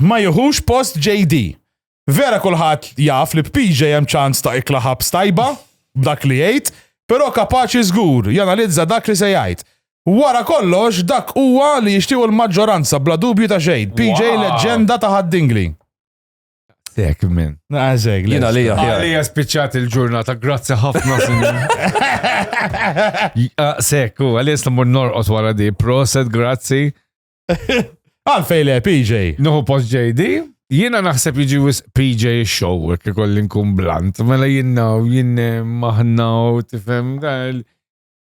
ma jieħux post JD. Vera kulħadd jaf li b'PJ hemm ċans ta' ikla ħabs tajba b'dak li jgħid, però kapaċi żgur janalizza dak li se jgħid. Wara kollox dak huwa li jixtiequ l-maġġoranza bla dubju ta' xejn. PJ leġġenda ta' ħaddingli. Dek minn. Għazeg, ah, jina li jaħjar. Għalija spiċċat il-ġurnata, grazzi ħafna sinjur. Ah, Sekku, għalija s-lamur norqot wara di, proset, grazzi. Għalfej le, PJ. Nuhu post JD. Jiena naħseb jiġi wis PJ show, jek ikolli nkun blant. Mela jiena u jien maħna u tifhem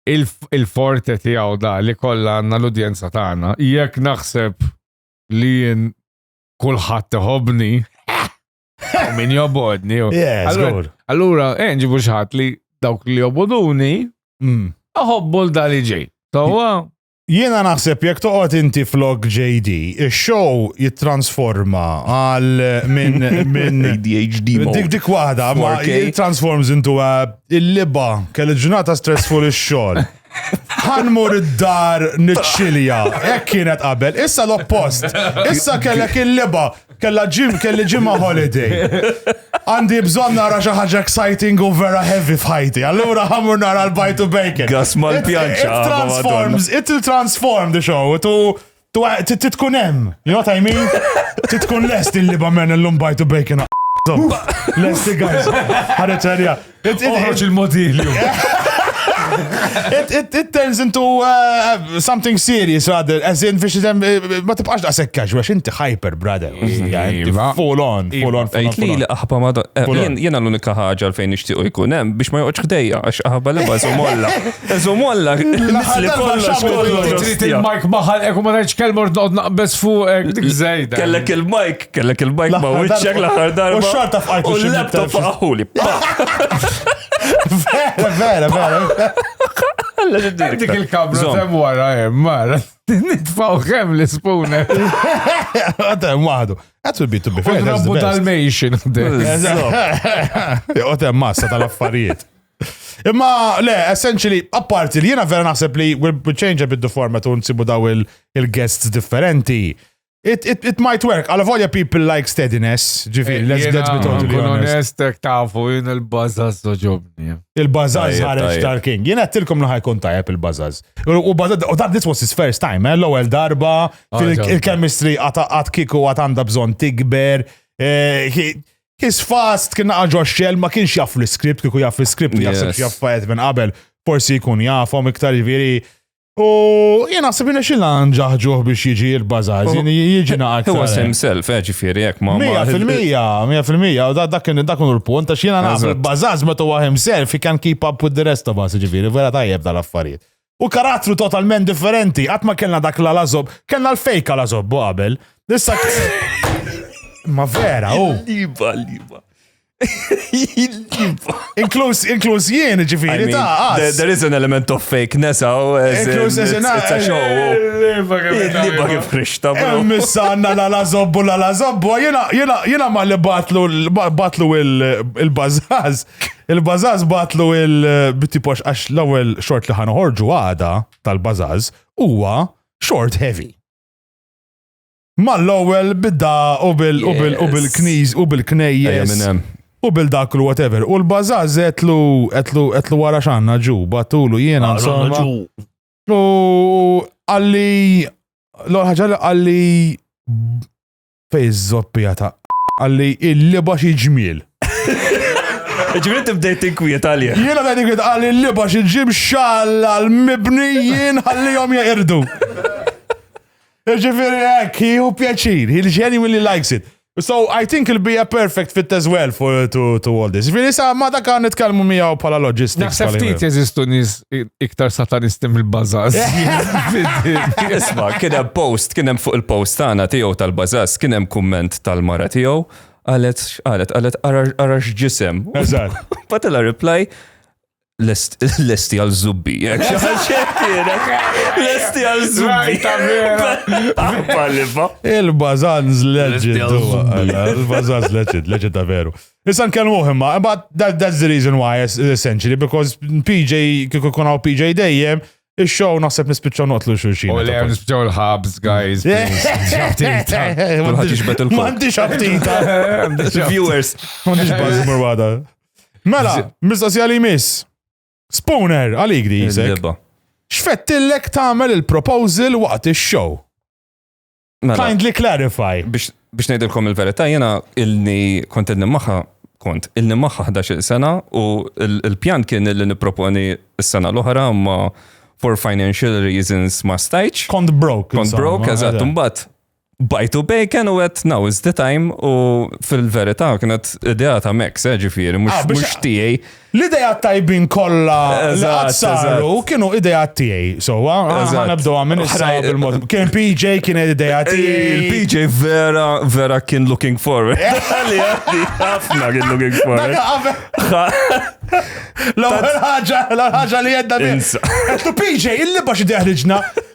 il-forte tiegħu da li kollha għandna l-udjenza tagħna. Jekk naħseb li jien kulħadd iħobni, min jobodni. Allura, eh, nġibu xħat li dawk li joboduni, mm. aħobbu l-dali ġej. Tawa, Jiena naħseb jekk toqgħod inti flok JD, ix-show jittransforma għal minn minn ADHD dik dik waħda ma it transforms into a il-liba kelli ġurnata stressful ix-xogħol. Ħanmur id-dar niċċilja, hekk kienet qabel, issa l-oppost. Issa kellek il-liba, Kella ġim, kelli ġimma holiday. Għandi bżon nara xi ħaġa exciting u vera heavy f'ħajti. Allura ħamur nara l-bajt u bacon. Gas mal-pjanċa. It transforms, it will transform the show. Tu titkun hemm. You know what I mean? Titkun lest il-liba men l-lum bajt u bacon. Lesti guys. Ħareċ Oħroġ il-modilju. It turns into uh, something serious rather, as in biex uh, ma tibqax da' sekkax, għax inti hyper, brother. Iva. Iva. Full on, full on. Ejt li li aħba ma eh, jena l-unika ħagġa fejn nishtiqu jkun hemm biex ma joqgħodx ħdejja għax aħba li bażu molla. Eżu molla. Li kollox kollox. Trid il-mike maħal eku ma rajtx kelmor noqgħod naqbeż fuq eh, dik żejda. Kellek il-mike Kellek il-bajk ma' wiċċek l-aħħar darba. U xorta f'qajt. U l-laptop faqħuli. Vera, vera, vera. Dik il-kabra tem wara hemm, mara. Nitfaw kemm l-ispune. Għatem waħdu. That would be to be fair. Rabbu tal-mejxin. Għatem massa tal-affarijiet. Imma, le, essentially, apparti li jena vera naħseb li we'll change a bit the format u nsibu daw il-guests differenti. It, it, it might work, għal volja people like steadiness, ġifiri, eh, let's, let's be totally honest. Ek tafu, jien il-bazaz doġobni. Il-bazaz ħareġ tal-king. Jien għattilkom li ħajkun tajab il-bazaz. U bazaz, u dan this was his first time, eh? l-ewel darba, ah, il-chemistry għat kiku għat għanda bżon tikber. Eh, his fast kien għagħu xell, ma kienx jaff l-script, kiku jaff l-script, jaff jaff minn qabel, forsi jkun jaffom iktar ġifiri. U jien naħseb jina xilna nġaħġuħ biex jiġi il-bazaż, jien jiġi naqat. Huwa sem self, eh, ġifieri jekk ma. Mija fil-mija, mija fil-mija, u dak kien dak kien l-punt għax jiena naħseb il-bazaż meta huwa himself he can keep up with the rest of us, ġifieri vera tajjeb dal-affarijiet. U karattru totalment differenti, qatt ma kellna dak la lażob, kellna l-fejka lażob qabel. Issa Ma vera, u. Liba, liba. Inkluż inkluż jien ġifieri ta' qas. There is an element of fake nesa. Inkluż as in it's a show. Liba kif frixta. Missa għandna la la zobbu la la zobbu. Jiena ma li batlu batlu il-bażaz. Il-bażaz batlu il-bitipox għax l-ewwel xort li ħanoħorġu għada tal-bażaz huwa short heavy. Mal-ewwel bidda u bil u bil u bil-kniż u bil-knejjes. U bil dak u whatever. U l-bażaż qedlu qedlu qedlu wara x'għandna ġu, battulu jiena insomma. U għalli l-ewwel ħaġa li għalli fej iż-żoppija ta' għalli il-liba xi ġmiel. Ġifieri tibdejt tinkwiet għalija. Jiena bdejt tinkwiet għalli l-liba xi ġim xalla l-mibni jien ħallihom jeqirdu. Ġifiri, hekk, jieħu pjaċir, he genuinely likes it. So I think it'll be a perfect fit as well for to, to all this. Ġifiri, sa ma dak għan nitkellmu miegħu bħala logistics. Naħseb bħala- ftit jeżistu nies i- iktar satanisti mill-bażaż. Isma, kien hemm post, kien hemm fuq il-post tagħna tiegħu tal-bażas, kien hemm kumment tal-mara tiegħu, qalet qalet qalet ara ara x'ġisem. Eżatt. Batela reply Lesti għal zubbi. Lesti għal zubbi. Il-bazanz legend. Il-bazanz legend, legend ta' veru. Issa nkellmu imma, but that, that's the reason why, essentially, because PJ, kif ikun għaw PJ dejjem, il-show naħseb nispiċċaw noqtlu xulxin. U le, nispiċċaw l-ħabs, guys. Mandiġ aptita. Viewers. Mandiġ bazzmur għada. Mela, mistoqsija li miss. Spooner, għalik di jizek. Xfettillek tagħmel il-proposal waqt ix-show. Mela. Kindly clarify. Biex ngħidilkom il-verità, jena ilni kont ilni maħħa kont ilni maħħa 11 sena u l-pjan kien illi niproponi s-sena l-oħra ma for financial reasons ma stajċ. Kont broke. Kont broke, eżatt, mbagħad Bajtu bacon u għet now is the time u fil-verita kienet idea ta' Max, eh, ġifiri, mux ah, tijaj. L-idea tajbin kolla l-għazzaru kienu idea tijaj. So, għana bdu għamin il-mod. Kien PJ kien idea eh, tijaj. PJ vera, vera kien looking forward. Għalli eh. għaddi, għafna kien looking forward. L-ħagġa, l-ħagġa li għedda minn. Għettu PJ, il-liba xidja ħriġna.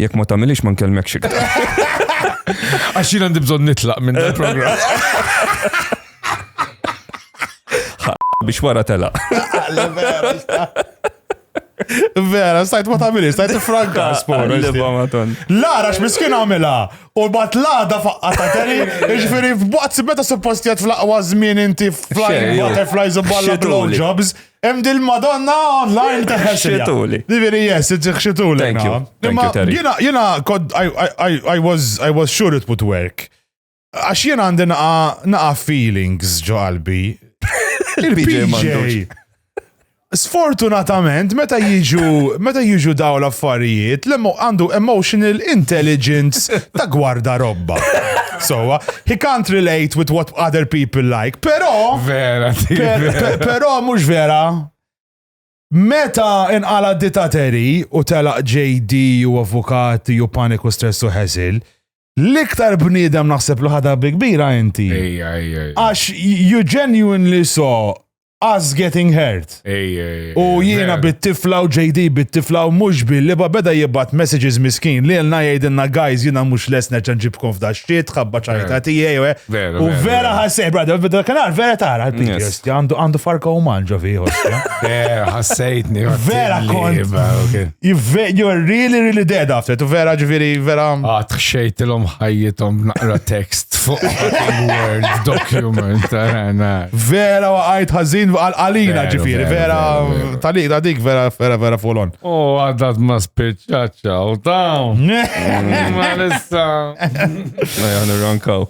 Jekk ma tagħmilix ma nkellmekx iktar. Għax jien għandi bżonn nitlaq minn dan il-programm. Biex wara tela. Vera, stajt ma tagħmilix, stajt tifranka spor. Liba ma ton. Lara x'miskin għamilha u bat lada faqqa ta' teri, ġifieri f'waqt meta suppost jgħid fl-aqwa żmien inti flying Xejn, jew butterflies u balla xituli. blowjobs, Hemm dil Madonna online ta' Xituli. Diviri, yes, it's xituli. Thank you. Thank you, Terry. Jena, jena, kod, I, I, I, was, I was sure it would work. Għax jena għandi naqa feelings ġo qalbi. Il-PJ. Sfortunatament, meta jiġu, meta jiġu daw l-affarijiet, l-għandu emotional intelligence ta' gwarda robba. sowa. He can't relate with what other people like, pero. Vera, pero mux vera. Meta inqala ditateri u telaq JD u avukati u paniku stress u ħesil, l-iktar bniedem naħseb li ħadha bi kbira inti. Għax you genuinely saw us getting hurt. U jiena bit-tifla u JD bit-tifla u mhux billi ba beda jibgħat messages miskin li lna jgħidilna guys jiena mhux les nerġa' nġibkom f'da xit ħabba ċajta tiegħi u eh. vera ħassejt brada beda kanar vera tara għandu farka u manġo fi Vera ħassejtni. Vera kont. You're really, really dead after it. Vera ġviri, vera. Għat xejtilom ħajjitom naqra text fuq word document. Vera għajt ħazin għal-għalina ġviri, vera talik ta' dik vera vera vera fulon. U għaddat ma spiċċaċċa u dawn. Ma nista. Ma jgħan rankaw.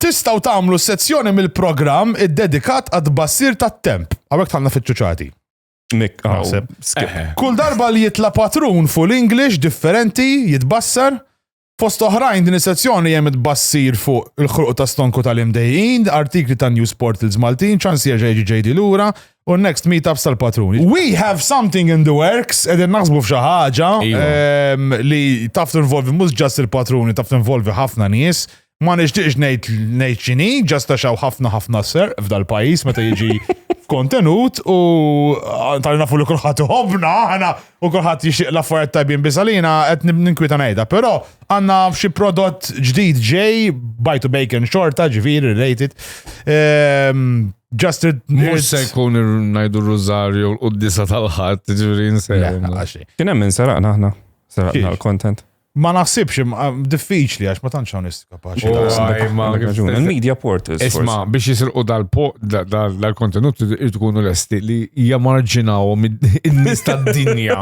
Tistaw tamlu sezzjoni mill-program id-dedikat għad basir tat-temp. Għawek tħanna fitċuċati. Kull darba li jitla patrun full English differenti jitbassar. Fost oħrajn din is-sezzjoni hemm tbassir fuq il-ħruq ta' stonku tal-imdejjin, artikli ta' news portals Maltin, ċans jerġa' jiġi ġejdi lura u next meetups tal-patrun. We have something in the works, qegħdin naħsbu f'xi ħaġa iva. ehm, li taf tinvolvi mhux ġast il-patruni, taf tinvolvi ħafna nies. Ma nixtieqx ngħid ngħid x'inhi, ġast għax hawn ħafna ħafna serq f'dal-pajjiż meta jiġi kontenut u tal nafu li kulħadd iħobbna aħna u kulħadd jixtieq l-affarijiet tajbin biżalina qed ninkwita ngħidha. Però għandna f'xi prodott ġdid ġej, bite to bacon xorta, ġifieri related. Ehm, Just it. Mux se jkun najdu r-rużarju l-qoddisa tal-ħadd, ġifieri nsejħu. Kien hemm minn saraqna aħna. Saraqna l-content. Ma naħsibx, diffiċli għax ma tantx hawn kapaċi. Il-media portals. Isma' biex jisilqu dal-kontenut tkunu lesti li jamarġinaw in-nies tad-dinja.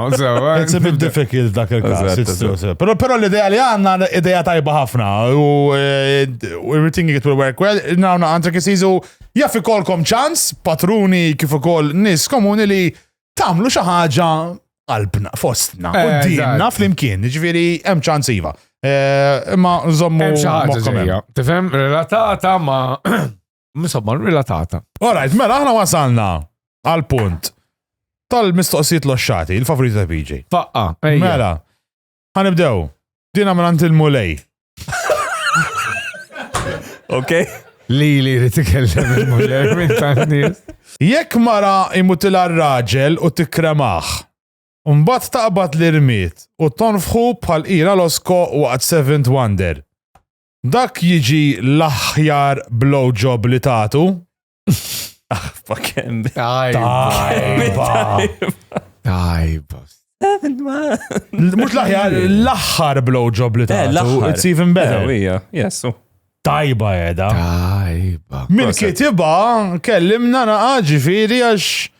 It's a bit difficult dak il-każ. Però però l-idea li għandna idea tajba ħafna u eh, everything it will work well, nawna għandek isiżu jaffi kolkom ċans, patruni kif ukoll nies komuni li tagħmlu xi ħaġa qalbna, fostna, u eh, dinna flimkien, ġviri, hemm ċans iva. Eh, imma nżommu. Tifhem, relatata ma. Insomma, relatata. Alright, mela aħna wasalna għal punt tal-mistoqsijiet l-oxxati, il-favorita ta' PJ. Faqqa, mela. Ħanibdew. Dina mrant il-mulej. Ok? Li li li tikellem il-muller minn tan-nies. Jekk mara imutila r-raġel u tikkremaħ. Mbagħad taqbad l-irmiet u tonfħu bħal qira l-osko waqt Seventh Wonder. Dak jiġi l-aħjar blowjob li tagħtu? Aħfa ah, kemm. Tajba. Tajba. Mux laħjar, laħħar blowjob li ta' eh, laħħar. It's even better. Jessu. Tajba edha. Tajba. Mil kitiba kellimna naqa ġifiri għax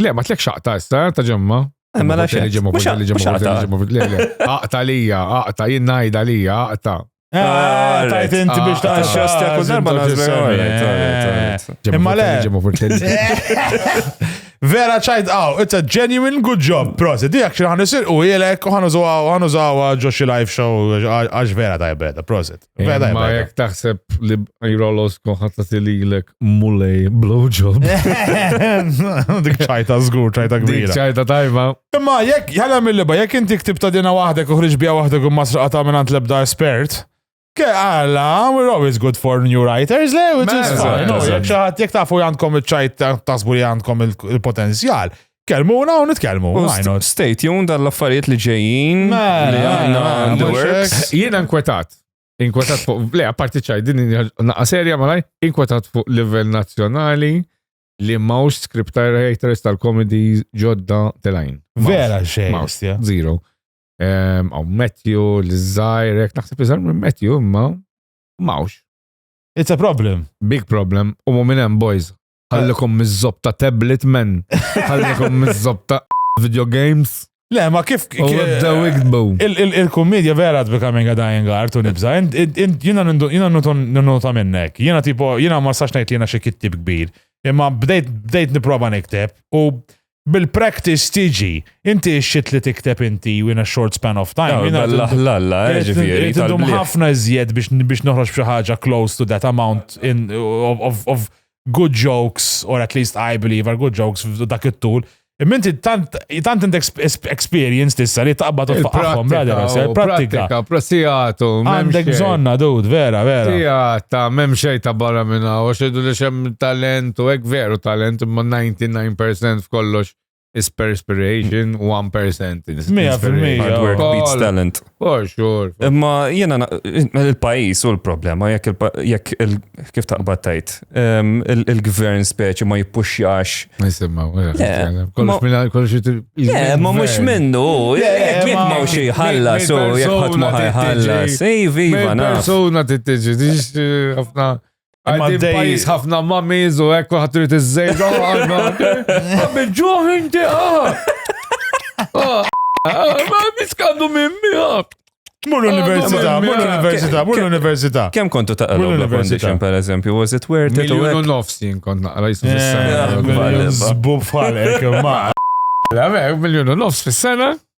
Le, ma tlek xaqta issa, ta' ġemma. Eh, mela xejn. Aqta lija, aqta, jien ngħidha lija, aqta. Eh, ah, tajt inti biex ta' xasti għakku darba Imma le. Vera ċajt għaw, it's a genuine good job, prosit. Dijak xi ħan isir u jilek u ħan użawa ġo xi live show għax vera tajbeda, prosit. Beda, ma jek taħseb li jrollos konħatta tililek mulej blowjob. Dik ċajta zgur, ċajta kbira. ċajta tajba. Imma jek, jħalla mill-liba, jek inti ktib ta' dina wahdek uħriġ bija wahdek u masraqa ta' minnant lebda espert. Ke għalla, we're always good for new writers, le, which is fine. Jek xaħat, jek tafu jandkom il-ċajt tasbu li jandkom il-potenzjal. Kelmuna u nitkellmu. U why st- not? Stay tuned għall-affarijiet li ġejjin. Mela, li għandna mela, in the mhux works. hekk. Jiena inkwetat. Inkwetat fuq, le, apparti ċaj, din hija naqqa serja malaj, inkwetat fuq livell nazzjonali li mawx script writers tal-komedi ġodda telajn. Mawx. Vera xejn. Mawx. ja. Zero. Ehm, Għaw Matthew, l-Zajr, jek naħseb iżar minn Matthew, imma mawx. It's a problem. Big problem, u mu minn hemm boys. Ħallikom miż-żob ta' tablet men. Ħallikom miż-żob ta' video games. Le, ma kif. Il-kommedja vera becoming a dying art u nibza. Jina n-nota minnek. Jina tipo, jina ma sax najt li jina xie kittib kbir. Imma bdejt niprofa nikteb u bil-practice tiġi. Inti xit li tikteb inti in a short span of time. L-ħlalla, eh, ġifiri. Tidum ħafna iżjed biex noħroġ b'xi ħaġa close to that amount in, of, of, of good jokes, or at least I believe are good jokes dak it-tul. Minti tant tant int experience tissa li taqbad u tfaqhom brother, eh, pratika. Prassijatu. Għandek bżonna, dud, vera, vera. Sijata, memxej ta' barra minna, u xedu li xem talent Tant u hekk veru talent imma 99 percent f'kollox is perspiration u 1 percent is inspiration. Hard work beats talent. For sure. Imma jiena il-pajjiż u l-problema jekk kif taqbad tajt ehm, il-gvern speċi ma jippuxjax. Nisimma, kollox eh, Ma mhux minnu, jekk jekk ma xi ħallas u jekk ħadd ma ħallas. Iva, naf. Persuna tittiġi, ħafna Għaddi pajis ħafna mamiz u ekku ħatrit iż-żejda għanna. Għabġuħ inti għah. Ma miskandu minn miħab. Mur l-università, mur l-università, mur l-università. Kem kontu ta' l-università, per eżempju, was it worth it? Miljonu nofs jien kont naqra jisna fil-sena. Zbub falek, ma. Miljonu nofs fil-sena.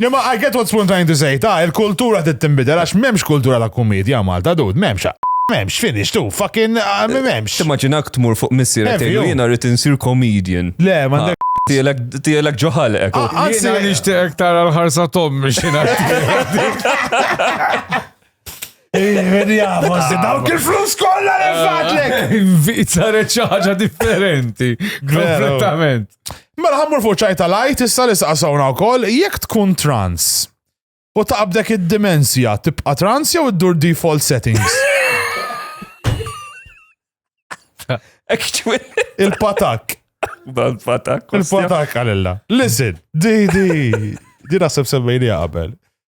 No, ma I get what Spoon trying to say, ta' il-kultura trid tinbidel għax m'hemmx kultura ta' kumedja Malta dud, m'hemmx. M'hemmx, finish, tu, fucking ah, m'hemmx. Timmaġinak tmur fuq missier Heavy, tgħidlu oh. jiena rrid insir comedian. Le, m'għandek Tielek ġoħal ek. Anzi, nixtieqek tara l-ħarsa tommi xina. Verja, forse ah, dawk il-flus kollha li ah. fatlek! Saret xi ħaġa differenti. Kompletament. Mela ħammur fuq ċajta lajt issa li saqsawna wkoll jekk tkun trans u taqbdek id-dimensja tibqa' trans jew iddur default settings. Il-patak. Dan patak. Il-patak għalilla. Listen, di di. Di naħseb semmejni qabel.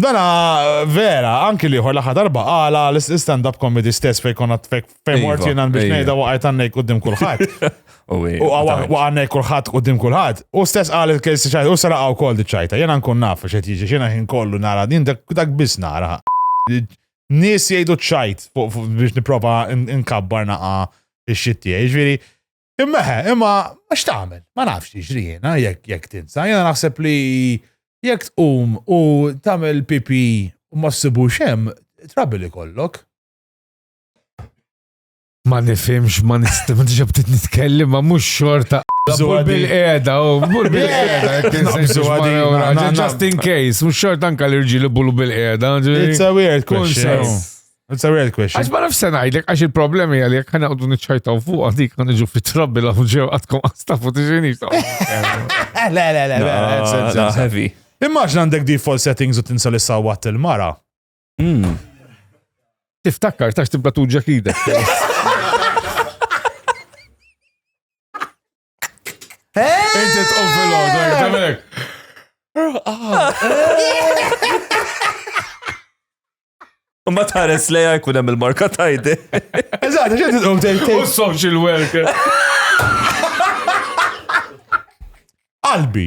Dana vera, anki liħor laħa darba għala l-stand-up comedy stess fej konna tfek fej mort iva, jena biex nejda waqajt għannek uddim kullħat. U għannek kullħat uddim kullħat. U stess għal il-kejsi ċajta, u sara għaw kol diċajta. Jena nkun naf xet jiġi xena jien kollu nara din dak bis nara. Nis jgħidu ċajt biex niprofa nkabbar naqa il-xitti. Ġviri, Imma he, imma għax tagħmel, ma nafx jiġri jiena jekk jekk tinsa, jiena naħseb li jekk tqum u tagħmel pipi u ma ssibu xem, trabi li kollok. Ma nifimx, ma nistim, ġab tit nitkellem, ma mux xorta. Bżur bil-qeda, u oh, bżur bil-qeda. Just in case, mux xorta anka l-irġili bullu bil-qeda. It's a weird question. It's a real question. Għax ma nafx se ngħidlek għax il-problemi għal jekk ħana għodu niċċajtaw fuq għandi kan niġu fit-trabbi law ġew għadkom għastafu tiġini. Le, le, le, le. Heavy. Immaġna għandek default settings u tinsal issa watt il-mara. Hmm. Tiftakkar tax tibqa tuġġa kidek. Inti tqum fil-ħodu, għajtemek. U ma tħares leja jkun hemm il-marka tajdi. Eżatt, ġen titqum tgħid. U social worker. Qalbi.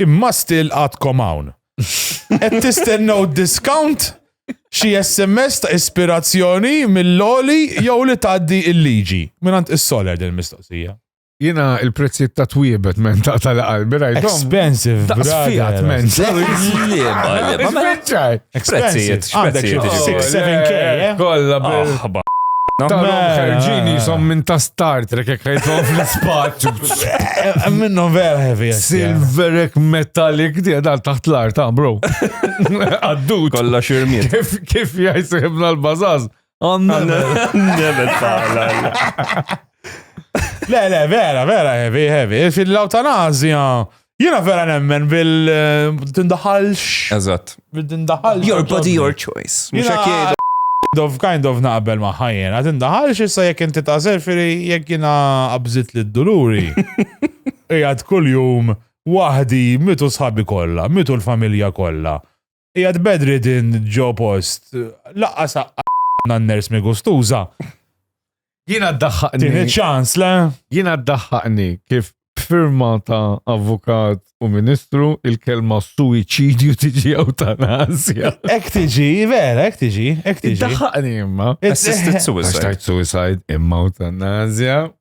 Imma still għadkom hawn. Qed tistennew discount? Xi SMS ta' ispirazzjoni mill-loli jew li tgħaddi il-liġi? Minant is-soler din mistoqsija. Jina il-prezzijiet ta' twiebet men ta' tal-qalbi rajt. Expensive, brother. men. Speċaj. Expensive. Għandek xi 6-7k. Eh? Kolla bil. Tal-ħarġini jisom minn ta' Star Trek jek ħajtom fl-spazju. Minnom vera heavy. Silverek metallic di għal taħt l-art, ah, bro. Għaddu. Kolla xirmiet. Kif, kif jajsibna l-bazaz? Nevet falla. Le, le, vera, vera heavy, heavy. Fil-lawtanazja, Jena vera nemmen bil-tindaħalx. Eh, Eżatt. Bil-tindaħalx. Your body, your choice. Mux Jena- hekk jgħidu. Kind of, kind of naqbel ma' ħajjen. Għat indaħalx issa jek inti ta' serfiri jek jina abżit li d-duluri. Ijad kull jum wahdi mitu sħabi kolla, mitu l-familja kolla. Qiegħed bedri din ġo post. Laqqa saqqa nanners mi gustuża. Jiena ddaħħaqni. Tini ċans, le? Jiena ddaħħaqni kif b'firma ta' avukat u ministru il-kelma suicidju tiġi eutanasja. Ek tiġi, vera, ek tiġi, ek tiġi. Ddaħħaqni imma. Assisted suicide. Assisted suicide imma eutanasja.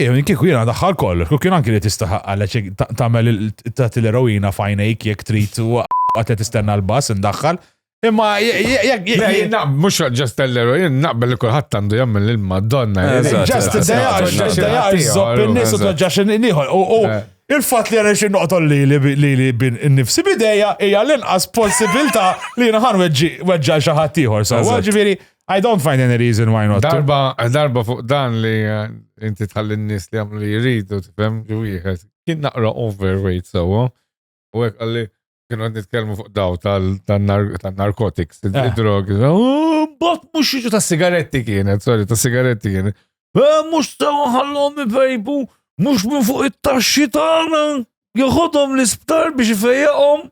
Ew kieku jiena daħħal kollox, kieku kien anki li tistaħaq għalek tagħmel tagħti l-eroina fajnejk jekk trid u qatt tistenna l-bass indaħħal. Imma jekk mhux ġast l-eroin naqbel li kulħadd għandu jagħmel lil Madonna. Ġast id-dejja żopp in-nies u toġġax nieħor. U eh. il-fatt li għana xi noqtol li li li bin nifsi bidejja hija l-inqas possibilità li jiena ħan weġġa xi ħadd ieħor. So, ġifieri I don't find any reason why not. Darba, darba fuq dan li eh, inti tħalli n-nis li għamlu li jridu, tifem, li wieħed. Kien naqra overweight sewa, u għek għalli kienu għad nitkelmu fuq daw tal-narkotics, eh. il-drogi. Oh, Bot mux jiġu ta' sigaretti kienet, sorry, ta' sigaretti kienet. Eh, mux sewa ħallom i-vejbu, mux minn fuq it-taxxi tagħna. Joħodhom l-isptar biex ifejjaqhom.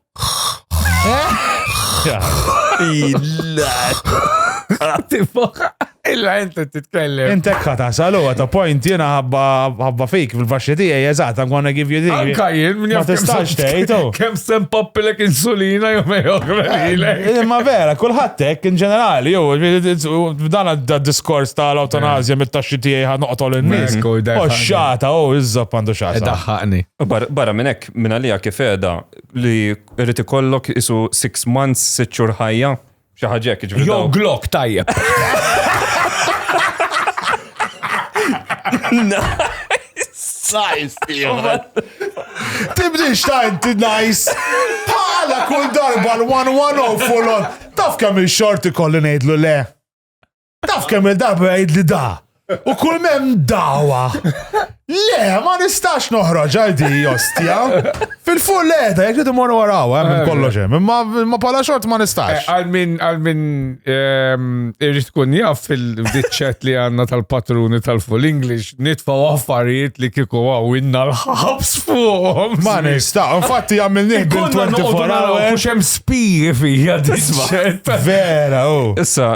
Illa inti titkellem. Intek ħata salu għata point jena ħabba fik fil-faxxi tiegħi eżatt I'm gonna give you this. Anka jien minn jaf tistax tgħid. Oh. Kemm sem pappilek insulina jew eh, Ma vera, kulħadd hekk in ġenerali jew dan d-diskors tal-awtonazja eh. mit-taxxi tiegħi ħa noqtol in-nies. Oxxata, oh, oh iżżob għandu xata. Ħaqni. Barra minn hekk, minn għalija kif qiegħda li rrid ikollok isu 6 months, 6 xhur ħajja, xi ħaġa hekk ġifieri. Jew glok tajjeb. Nice, Tibdix ta' inti nice. Bħala kull darba l-110 full on. Taf kemm il-xorti kolli ngħidlu le. Taf kemm il-darba jgħid li da. U kull mem dawa. Le, ma nistax noħroġ għal di ostja. Fil-full le, da jek jidu morru għaraw, eh, minn kollox hemm. Eh. Eh, ma pala xort ma nistax. Għal min għal min ehm, irrid tkun jaf fil-diċċet li għandna tal-patruni tal-full English nitfa' affarijiet li kieku għaw inna l-ħabs fuq. Ma nista, infatti għamil nihdu 24 hours. Mhux hemm spiji fija disma. Vera, u. Oh. Issa,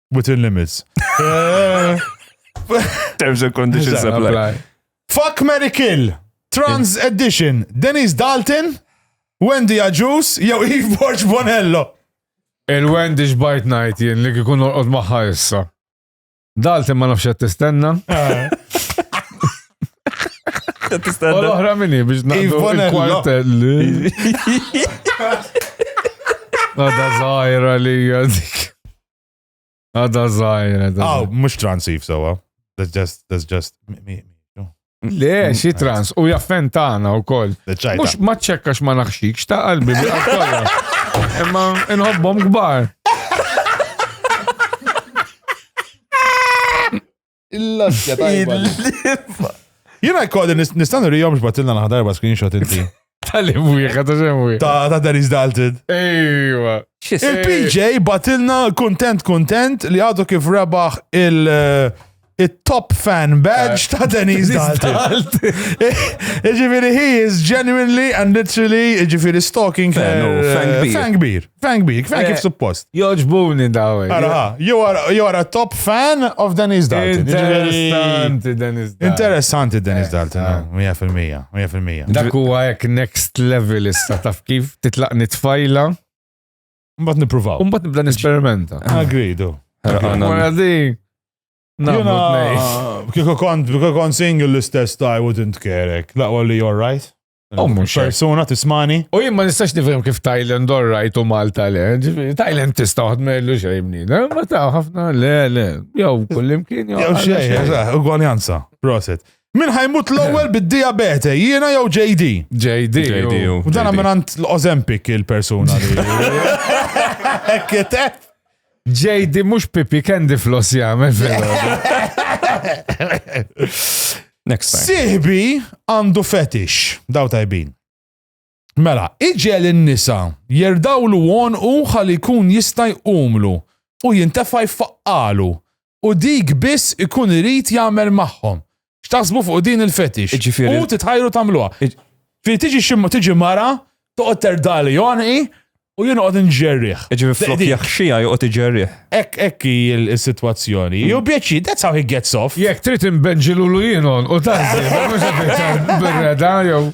Within limits. Terms and conditions apply. Fuck Mary Kill, Trans Edition, Denise Dalton, Wendy Ajus, jew Eve Borg Bonello. Il-Wendy xbajt najt jien li kikun orqod maħħa issa. Dalton ma nafx tistenna. Eh. U l-oħra minni biex naqdu il-kwartelli. Nada zaħira li għadik. Għada zaħir, għada. Aw, mux transif sewa. That's just, that's just, Le, mm, xi trans, u jaffen tagħna wkoll. Mhux ma ċekkax ma naħxikx ta' qalbi bi kollha. Imma nħobbhom kbar. Il-laxja tajba. Jena jkolli nistan rijom xbatilna naħdarba screenshot inti. Tal-im wieħed, ta' xem wieħed. Ta' ta' Dennis Dalton. Ejwa. Il-PJ batilna kontent kontent li għadu kif rebaħ il- eh, il-top fan badge ta' Dennis Dalton. Iġifiri, he is genuinely and literally, iġifiri, stalking fan beer. Frank bik, Frank kif eh, suppost. Joġbuni daw. Eh. Ara, you are, you are a top fan of Dennis Dalton. Interessanti Dennis Dalton. Interessanti Dennis eh, Dalton, 100%, 100%. Dak huwa hekk next level issa taf kif titlaq nitfajla. Mbat nipruvaw. Mbat nibda nisperimenta. Agridu. Għana din. Jena, kiko kont, kiko kont single l-istess ta' I wouldn't care. Laqwa li you're right. U mhux persuna tismani. U jien ma nistax nifhem kif Thailand all right u Malta le. Thailand tista' waħd ma jillu xejn mnina. Eh, ma ta' ħafna le le. Jew kullimkien jew. Jew xejn, ugwaljanza. Proset. Min ħajmut l-ewwel bid-diabete, jiena jew JD? JD. JD. U dan minn l-Ozempic il-persuna li. Kitef. JD mhux pipi candy floss jagħmel Next time. Sihbi għandu fetish, daw tajbin. Mela, iġel in-nisa jerdawlu u ħalli jkun jista' jqumlu u jintefa' jfaqqalu u dik biss ikun irid jagħmel magħhom. X'taħsbu fuq din il-fetix? Ġifieri- U titħajru tagħmluha. Iġ- Fi tiġi xi tiġi mara, toqgħod terdali għonqi u jien noqgħod inġerrih. Ġifieri flok Dik- jaħxija joqgħod iġerrih. Ek ek hi l- is-sitwazzjoni. Ju bieċi, that's how he gets off. Jekk trid inbenġilulu jien u tażżi, mhux qed iktar birreda jew.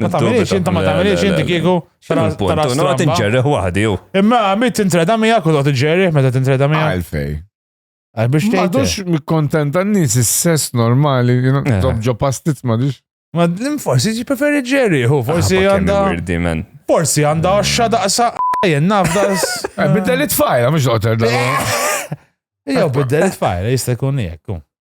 Ma tagħmilx inta ma tagħmilx inti kieku tara tara stramba. Tinġerreħ waħdi jew. Imma mit tintreda miegħek u toqgħod iġġerriħ meta tintreda miegħek. Għalfej. Għal biex tgħid. M'għadux mikkontenta n-nies is-sess normali, dob ġo pastit m'għadux. Ma forsi ti preferi ġerriħ u forsi għandha. Forsi għandha xxa daqsa jen nafdas. Biddel it-fajla mhux doqter da. Jew biddel it-fajla jista' jkun jekk.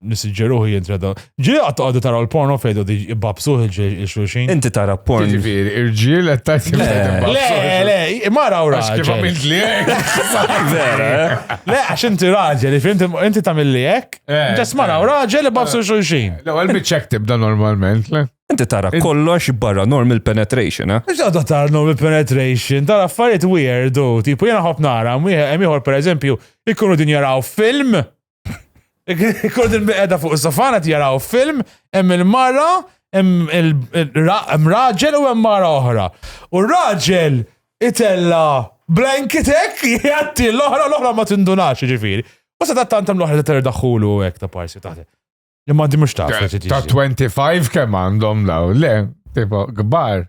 Nissiġġeruħu jintra da. Ġi għattu għaddu taraw l-porno fejdu di ibbabsuħ il-xulxin. Inti tara porno. Ġifiri, irġiel għed tajt Le, le, imma raw raġel. Kif għamilt li Vera, eh? Le, għax inti raġel, inti tamil li jek. Eh, Ġas ma raw eh. raġel ibbabsu xulxin. Le, għal bieċek tibda normalment, le. Inti tara kollox barra normal penetration, eh? Inti għadda tara normal penetration, tara affarijiet weird, tipo jena ħob nara, miħor per eżempju, ikkunu din jaraw film, Kod il-biqeda fuq is-sofana tjaraw film, hemm il-mara, hemm raġel u hemm mara oħra. U raġel itella blanketek jgħatti l-oħra l-oħra ma tindunax ġifiri. U sa ta' tantam l-oħra ta' terdaħulu u hekk ta' parsi taħt. Li ma di mux ta' Ta' 25 kemm għandhom daw, le, tipo, gbar.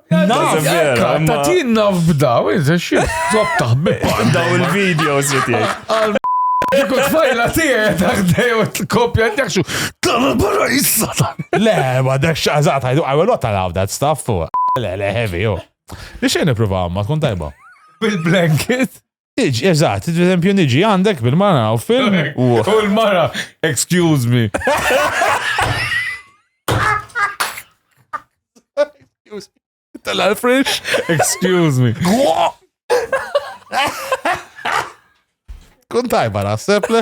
Naf, vera, ma- ta' tin naf b'daw, iżda xie, zob taħbib. Daw il-videos li tiegħek. Dik tfajla tiegħi taħdej u t-kopja t-jaxu. Tagħmel barra jissa. Le, ma dax xaqżat, I do- I will not allow that stuff. Le, le, heavy, jo. Li xejn nipprova għamma, tkun tajba. Bil-blanket. Iġ, eżat, per esempio, niġi għandek bil-mara u film. U l-mara, excuse me. Tal-Alfresh, excuse me. Kun tajba naħseb le.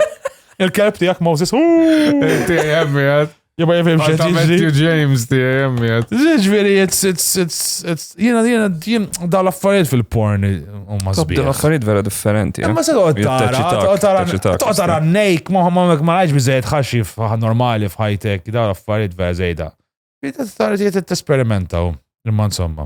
Il-kelb tijak Moses. Inti jemmi għad. Jibba jifim xed jiġri. James ti jemmiet. Ġviri, it's, it's, it's, it's, jena, jena, jen, da l-affarijiet fil-porn, u ma zbir. Da l-affarijiet vera differenti. Eh? Ma se toqgħod tara, toqgħod tara, toqgħod tara nejk, ma ma ma ma lajġ biżejjed ħaxi normali f'ħajtek, da l-affarijiet vera zejda. Jeta tara, jeta t-esperimenta, imma insomma.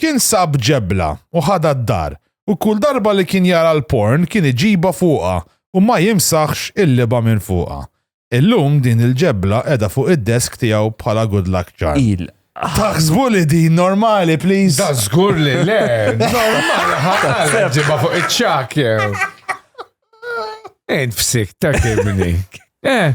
Kien sab ġebla u ħadha d-dar u kull darba li kien jara l-porn kien iġibha fuqha u ma jimsaħx il-libgħa minn fuqha. Illum din il-ġebla qiegħda fuq id-desk tiegħu bħala good luck charm. Taħsbu li din normali, please? Da żgur li le! Normali ħafna ġibha fuq iċ-ċak jew. Int fsik ta' kibni. Eh,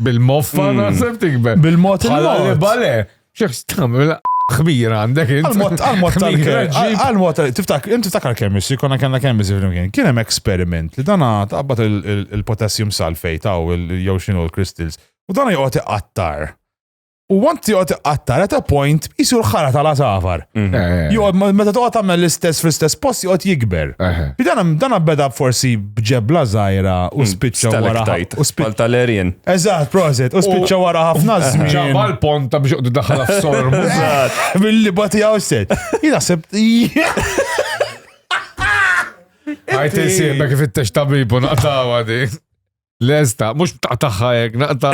Bil-moffa mm. naħseb tikber. Bil-mod il-mod. Bale, xiex tamil xbir għandek. Għal-mod tal-kem. Għal-mod tiftak, inti tiftakar kemm issi, konna kellna kemm issi flimkien. Kien hemm eksperiment li dana taqbad il-potassium sulfate taw jew xinu l-crystals. U dana joqgħod iqattar. U għant tiqot għattar at a point jisur ħara tal safar. Mhm. Eh, eh, eh. Joqgħod ma- meta toqgħod tagħmel l-istess fl-istess post joqgħod jikber. Eħe. Dan dan beda forsi bġebla żgħira u spiċċa wara Mm. Stalactite. u spiċċa. Bħal tal-erjen. Eżatt, proset, u spiċċa wara ħafna Ġabba żmien. l-ponta biex joqdu daħħal f'sormu. Billi bati għaw set. Jina sebt. Għajt insibek fit-tex tabibu naqtawa di. Lesta, mux btaqtaħħa jek, naqta.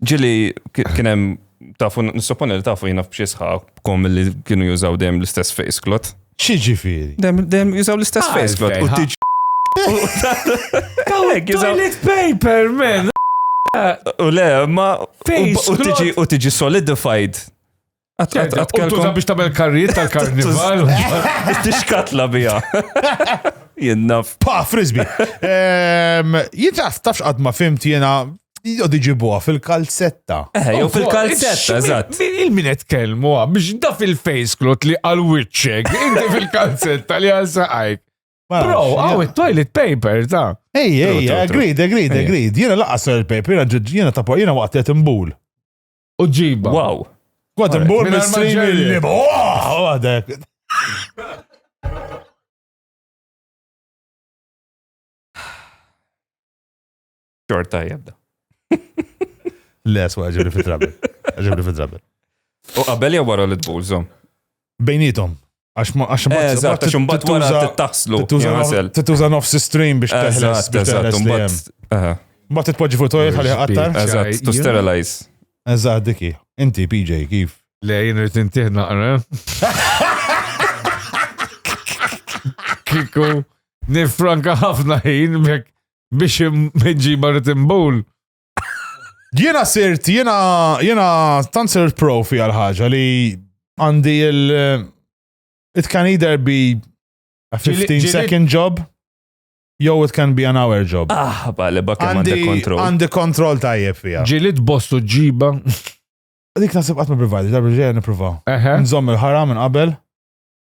Ġili, kienem, tafu, nissoponi li tafu jina f'xie sħabkom li kienu jużaw dem l-istess face clot. Xieġifiri? Dem, dem jużaw l-istess ah, face clot. U tiġ. Kawek, jużaw. Toilet paper, man. U le, ma. U tiġi, u tiġi solidified Għatkelkom biex tamel karriet tal-karnival. Tixkatla bija. Jinnaf. Pa, frisbi. Jintaf, tafx għad ma fimt jena Jod iġibuha fil-kalzetta. Eh, jew fil-kalzetta, eżatt. Il-minet kelmu biex da fil-face klot li għal witcheg, inti fil-kalzetta li għal saqajk. Bro, għaw il-toilet paper, ta' Ej, ej, agreed, agreed, agreed. Jena laqqa toilet paper, jena ta' jena waqt qed imbul. U ġiba. Wow. Għad imbur minn stream il-lib. Għadek. Xorta jabda. Le, swa, ġibri fit-trabi. Ġibri fit-trabi. U qabel jew wara li tbulżom? Bejnietom. Għax ma għax ma Eżatt, għax imbagħad wara tittuża- tittaħslu. tittuża nof- jaħsel. tittuża nofs stream biex teħles Eżatt, biex eżatt, teħles li imbagħad. hemm. aha, Mbagħad titpoġġi fuq toilet ħalli qattar. Biex- Eżatt, to Jien- sterilize. Eżatt diki. Inti PJ kif? Le, jien rrit intih naqra. Kiku, nifranka ħafna ħin mek biex meġiba rrit imbul. Jiena sirt, jiena jiena tant sirt profi għal ħaġa li għandi il it can either be a 15 second job jew it can be an hour job. Ah, bale, bakka għandi kontrol. Għandi kontrol tajjeb fija. Ġilit bostu ġiba. Dik nasib għatma privati, darbi ġeja niprofaw. Nżomm il-ħara minn qabel.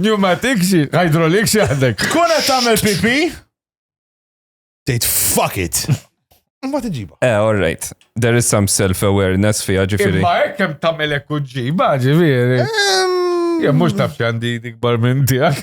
Pneumatic xi, hydraulic xi għandek. Tkun qed tagħmel pipi? Tgħid fuck it. Ma tiġiba. Eh, all right. There is some self-awareness fija ġifiri. Ma hekk hemm tagħmel hekk u ġiba ġifieri. Jem mhux taf x'għandi dikbar minn tiegħek.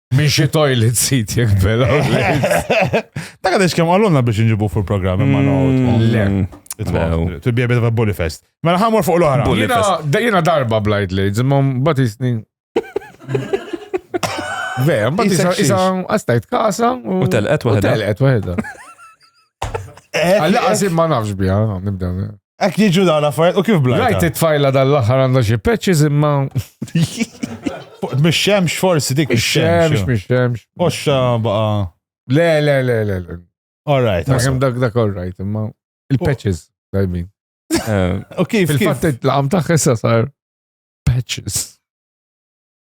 Minn xi toilet seat jek bela. Dak għadix kemm għallunna biex nġibu fuq programm imma mm, Le. Mm. To be a bit of a bully fest. Mela ħamur fuq l-oħra. Bully fest. Jena darba blajt li, zimma batisni. Vera, mbagħad isa isa għastajt kasa u telqet waħda. Telqet waħda. Għalla eh, eh, għasim eh. ma nafx bija, nibda. Ek jiġu dawn affarijiet u kif blajta. Rajt it-tfajla dal-aħħar għandha xi patches imma. Mix-xemx forsi dik mix-xemx. Mix-xemx. Oxxa baqa. Le, le, le, le. All right. Naħem dak dak all right, imma il-patches dajbin. Eh, u kif? Il-fatt it-laqam taħħessa sar patches.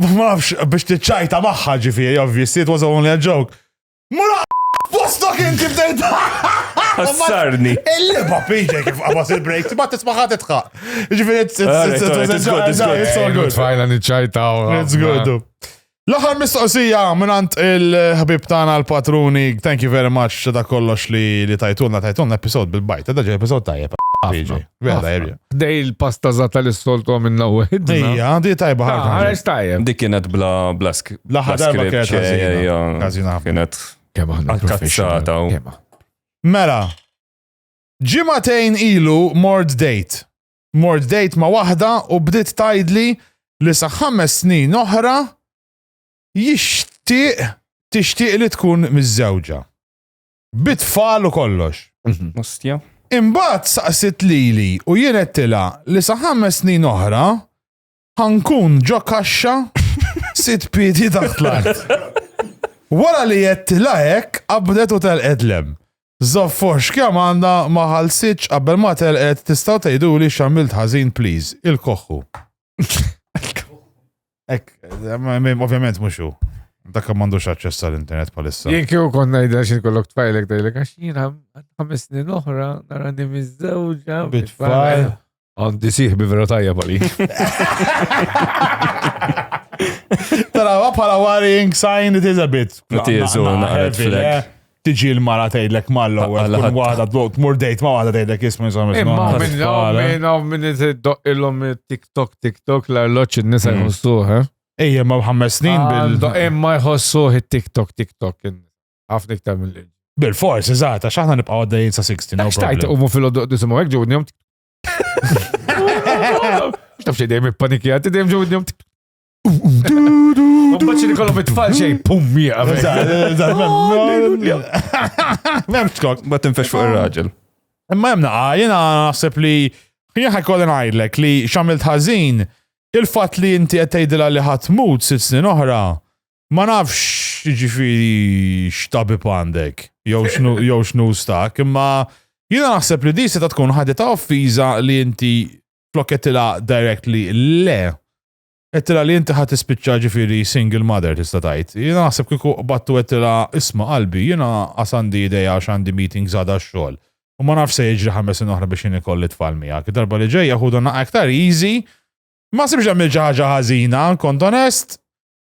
Ma nafx biex tiċċajta magħha ġifieri, obviously, it was only a joke. Mura postok inti bdejt. Ħassarni. Il-liba piġa kif qabas il-break, ma tismaħat itħaq. Ġifieri, it's all good. Fajna niċċajta. It's good. L-aħħar mistoqsija minant il-ħbib tagħna l-patruni, thank you very much ta' kollox li tajtulna tajtulna episod bil-bajt, ta' ġej episod tajjeb. Vera, erja. Dej il-pasta zata li s-soltu minna u għedna. Ija, di tajba ħarġa. Ħarġ tajja. Dik kienet bla blask. Laħħa darba kienet ħazina. Ħazina. Kienet. Kemma ħna. Għal-kazzata. Mela, ġimatejn ilu mord date. Mord date ma wahda u bdiet tajdli li sa ħames snin oħra jixtieq tixtieq li tkun miż-żewġa. Bit-tfal u kollox. Mustja. Mhm. Imbagħad saqsit lili u jien għedtilha li sa ħames snin oħra ħankun ġo kaxxa sit piedi taħt l-art. Wara li għedtilha hekk qabdet u telqet lem. Zoffox kemm għandha ma ħalsitx qabel ma telqet tistgħu tgħiduli x'għamilt ħażin please il-koħħu. Ek, ovvjament mhux hu. Dak m'għandux aċċess għall-internet palissa. Jien kieku kont ngħidha xi kollok tfajlek dejlek għax jiena ħames snin oħra nara li miżżewġa bit-tfajl. Għandi siħ bi vera tajja pali. Tara, bħala worrying sign it is a bit. It is, u naqret flek. tiġi l-mara tgħidlek mal-ewwel tkun waħda tmur dejt ma' waħda tgħidlek jisma' jisma' minn Imma minn hawn minn hawn minn iddoq ilhom TikTok TikTok l-arloġġ in-nisa mm. jħossuh, eh? Ejja ma' ħames snin ah, bil. Imma jħossuh it-TikTok TikTok ħafna iktar mill Bil-fors, eżatt, għax aħna nibqgħu għaddejjin sa 60. Għax tajt umu fil-għoddu disimgħu hekk ġewni jom. X'taf xi dejjem ippanikjati dejjem ġewni jom. Mbagħad li kollhom it-tfal xejn pum mija. M'hemm skok. Ma tinfex fuq ir-raġel. Imma hemm naqa, jiena naħseb li jien ħajkolli ngħidlek li x'għamilt ħażin il-fatt li inti qed tgħidilha li ħadd mut sitt snin oħra ma nafx jiġifieri x'tabib għandek jew x'nu stak, imma jiena naħseb li di se tkun ħadita offiża li inti flokketilha directly le Għedtilha li inti ħa tispiċċa ġifieri single mother tista' tgħid. Jiena naħseb kieku qbadt u għedtilha isma' qalbi jiena qas għandi idea għax għandi meetings għada għax-xogħol u ma nafx se jiġri ħames snin oħra biex jien ikolli tfal miegħek. Id-darba li ġejja ħudha naqgħa iktar easy. Ma ħsibx għamilt xi ħaġa ħażina, kont onest.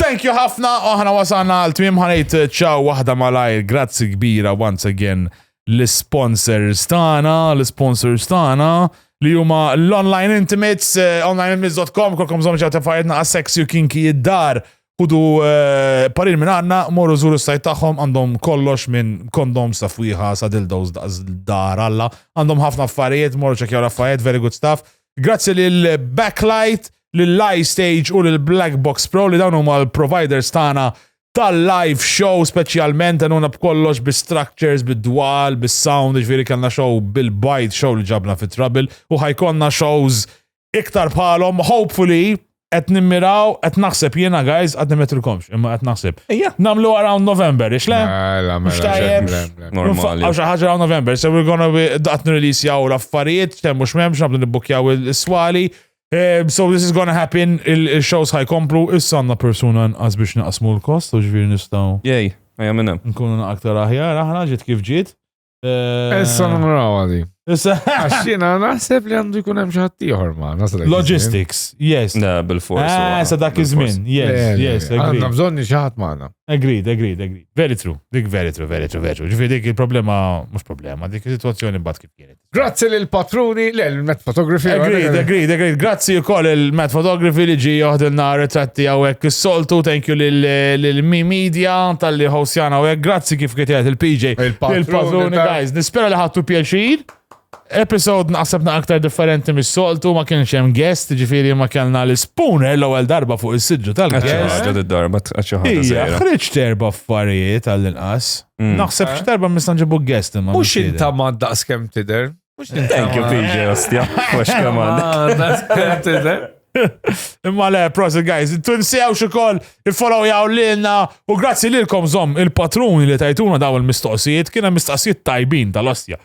Thank you ħafna, u aħna wasalna għal tmiem ħanejt ċaw waħda malajr, grazzi kbira once again l-sponsors tagħna, l-sponsors tagħna li huma l-online intimates, eh, onlineintimates.com, kolkom żomm ċaw tefajtna għas sexy u kinki id-dar, kudu eh, parir minn għanna, morru zuru sajt tagħhom għandhom kollox minn kondom stafwiħa sa dildos dar alla, għandhom ħafna affarijiet, morru ċekjaw l-affarijiet, very good stuff. Grazzi lil Backlight, lil iStage u lil Black Box Pro li dawn huma l-providers tagħna tal-live show speċjalment għanuna b'kollox bi structures, bi dwal, bi sound, ġviri kellna show bil-bajt show li ġabna fit trouble u ħajkonna shows iktar bħalhom, hopefully Qed nimmiraw, qed naħseb jiena guys, għad nimetrilkomx, imma qed naħseb. Ejja. Namlu around November, ix le? Mela, Mhux mela, tajjeb. le, le, le. Normali. Għaw xaħġa around November, so we're gonna be daqt nirelease jaw l-affarijiet, temmu xmemx, nabdu nibbukjaw il-swali. Eh, So this is gonna happen, il- il-shows ħajkomplu, issa għanna persuna nqas biex naqsmu l-kost, u ġviri nistaw Jej, ejja minn hemm. nkunu aktar aħjar, aħna ġiet kif ġiet. Eh, Issa naraw għadi. Issa. Għaxina, naħseb li għandu jkun hemm xi ħadd ieħor ma naħseb. Logistics, yes. Na, bil-fors. Ah, sa dak iż-żmien, yes, yes. Għandna bżonn xi ħadd magħna. Agreed, agreed, agreed. Very true. Dik very true, very true, very true. Ġifi dik il-problema, mhux problema, dik is-sitwazzjoni mbagħad kif kienet. Grazzi lil patruni, le Il-Met Photography. Agreed, agreed, agreed. Grazzi u koll il-Met Photography li ġi joħdilna retratti għawek il-soltu. Thank you l-Mi Media tal-li hostjana għawek. Grazzi kif kitjet il-PJ. Il-Patruni, guys. Nispera li ħattu pjaċir. Episode naqsebna aktar differenti mis-soltu, ma kienx hemm guest, ġifiri ma kellna l-spooner l-ewwel darba fuq is-sidġu tal-guest. Għadda darba Ija, ħriġ terba affarijiet għall-inqas. Mm. Naħseb eh? x'terba misna ġibu guest imma. Mhux inta ma daqs kemm tidher. Thank you, PJ, ostja. Mux kaman. Imma le, prosit guys, tunsew xikoll il-follow jaw l-inna u grazzi lilkom zom il-patruni li tajtuna daw il-mistoqsijiet, kiena mistoqsijiet tajbin tal-ostja.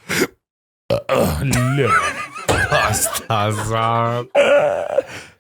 Pasta,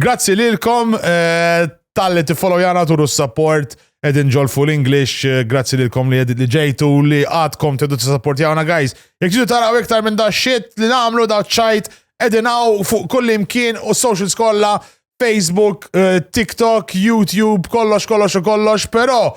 Grazzi lilkom eh, tal-li tiffolowjana turu s-support edin ġolfu l-English, eh, grazzi lilkom li edit li ġejtu li għadkom tedu t-supportjawna guys. Jek ġidu taraw iktar minn da shit li namlu da ċajt edin għaw fuq kull imkien u social skolla, Facebook, eh, TikTok, YouTube, kollox, kollox u kollox, pero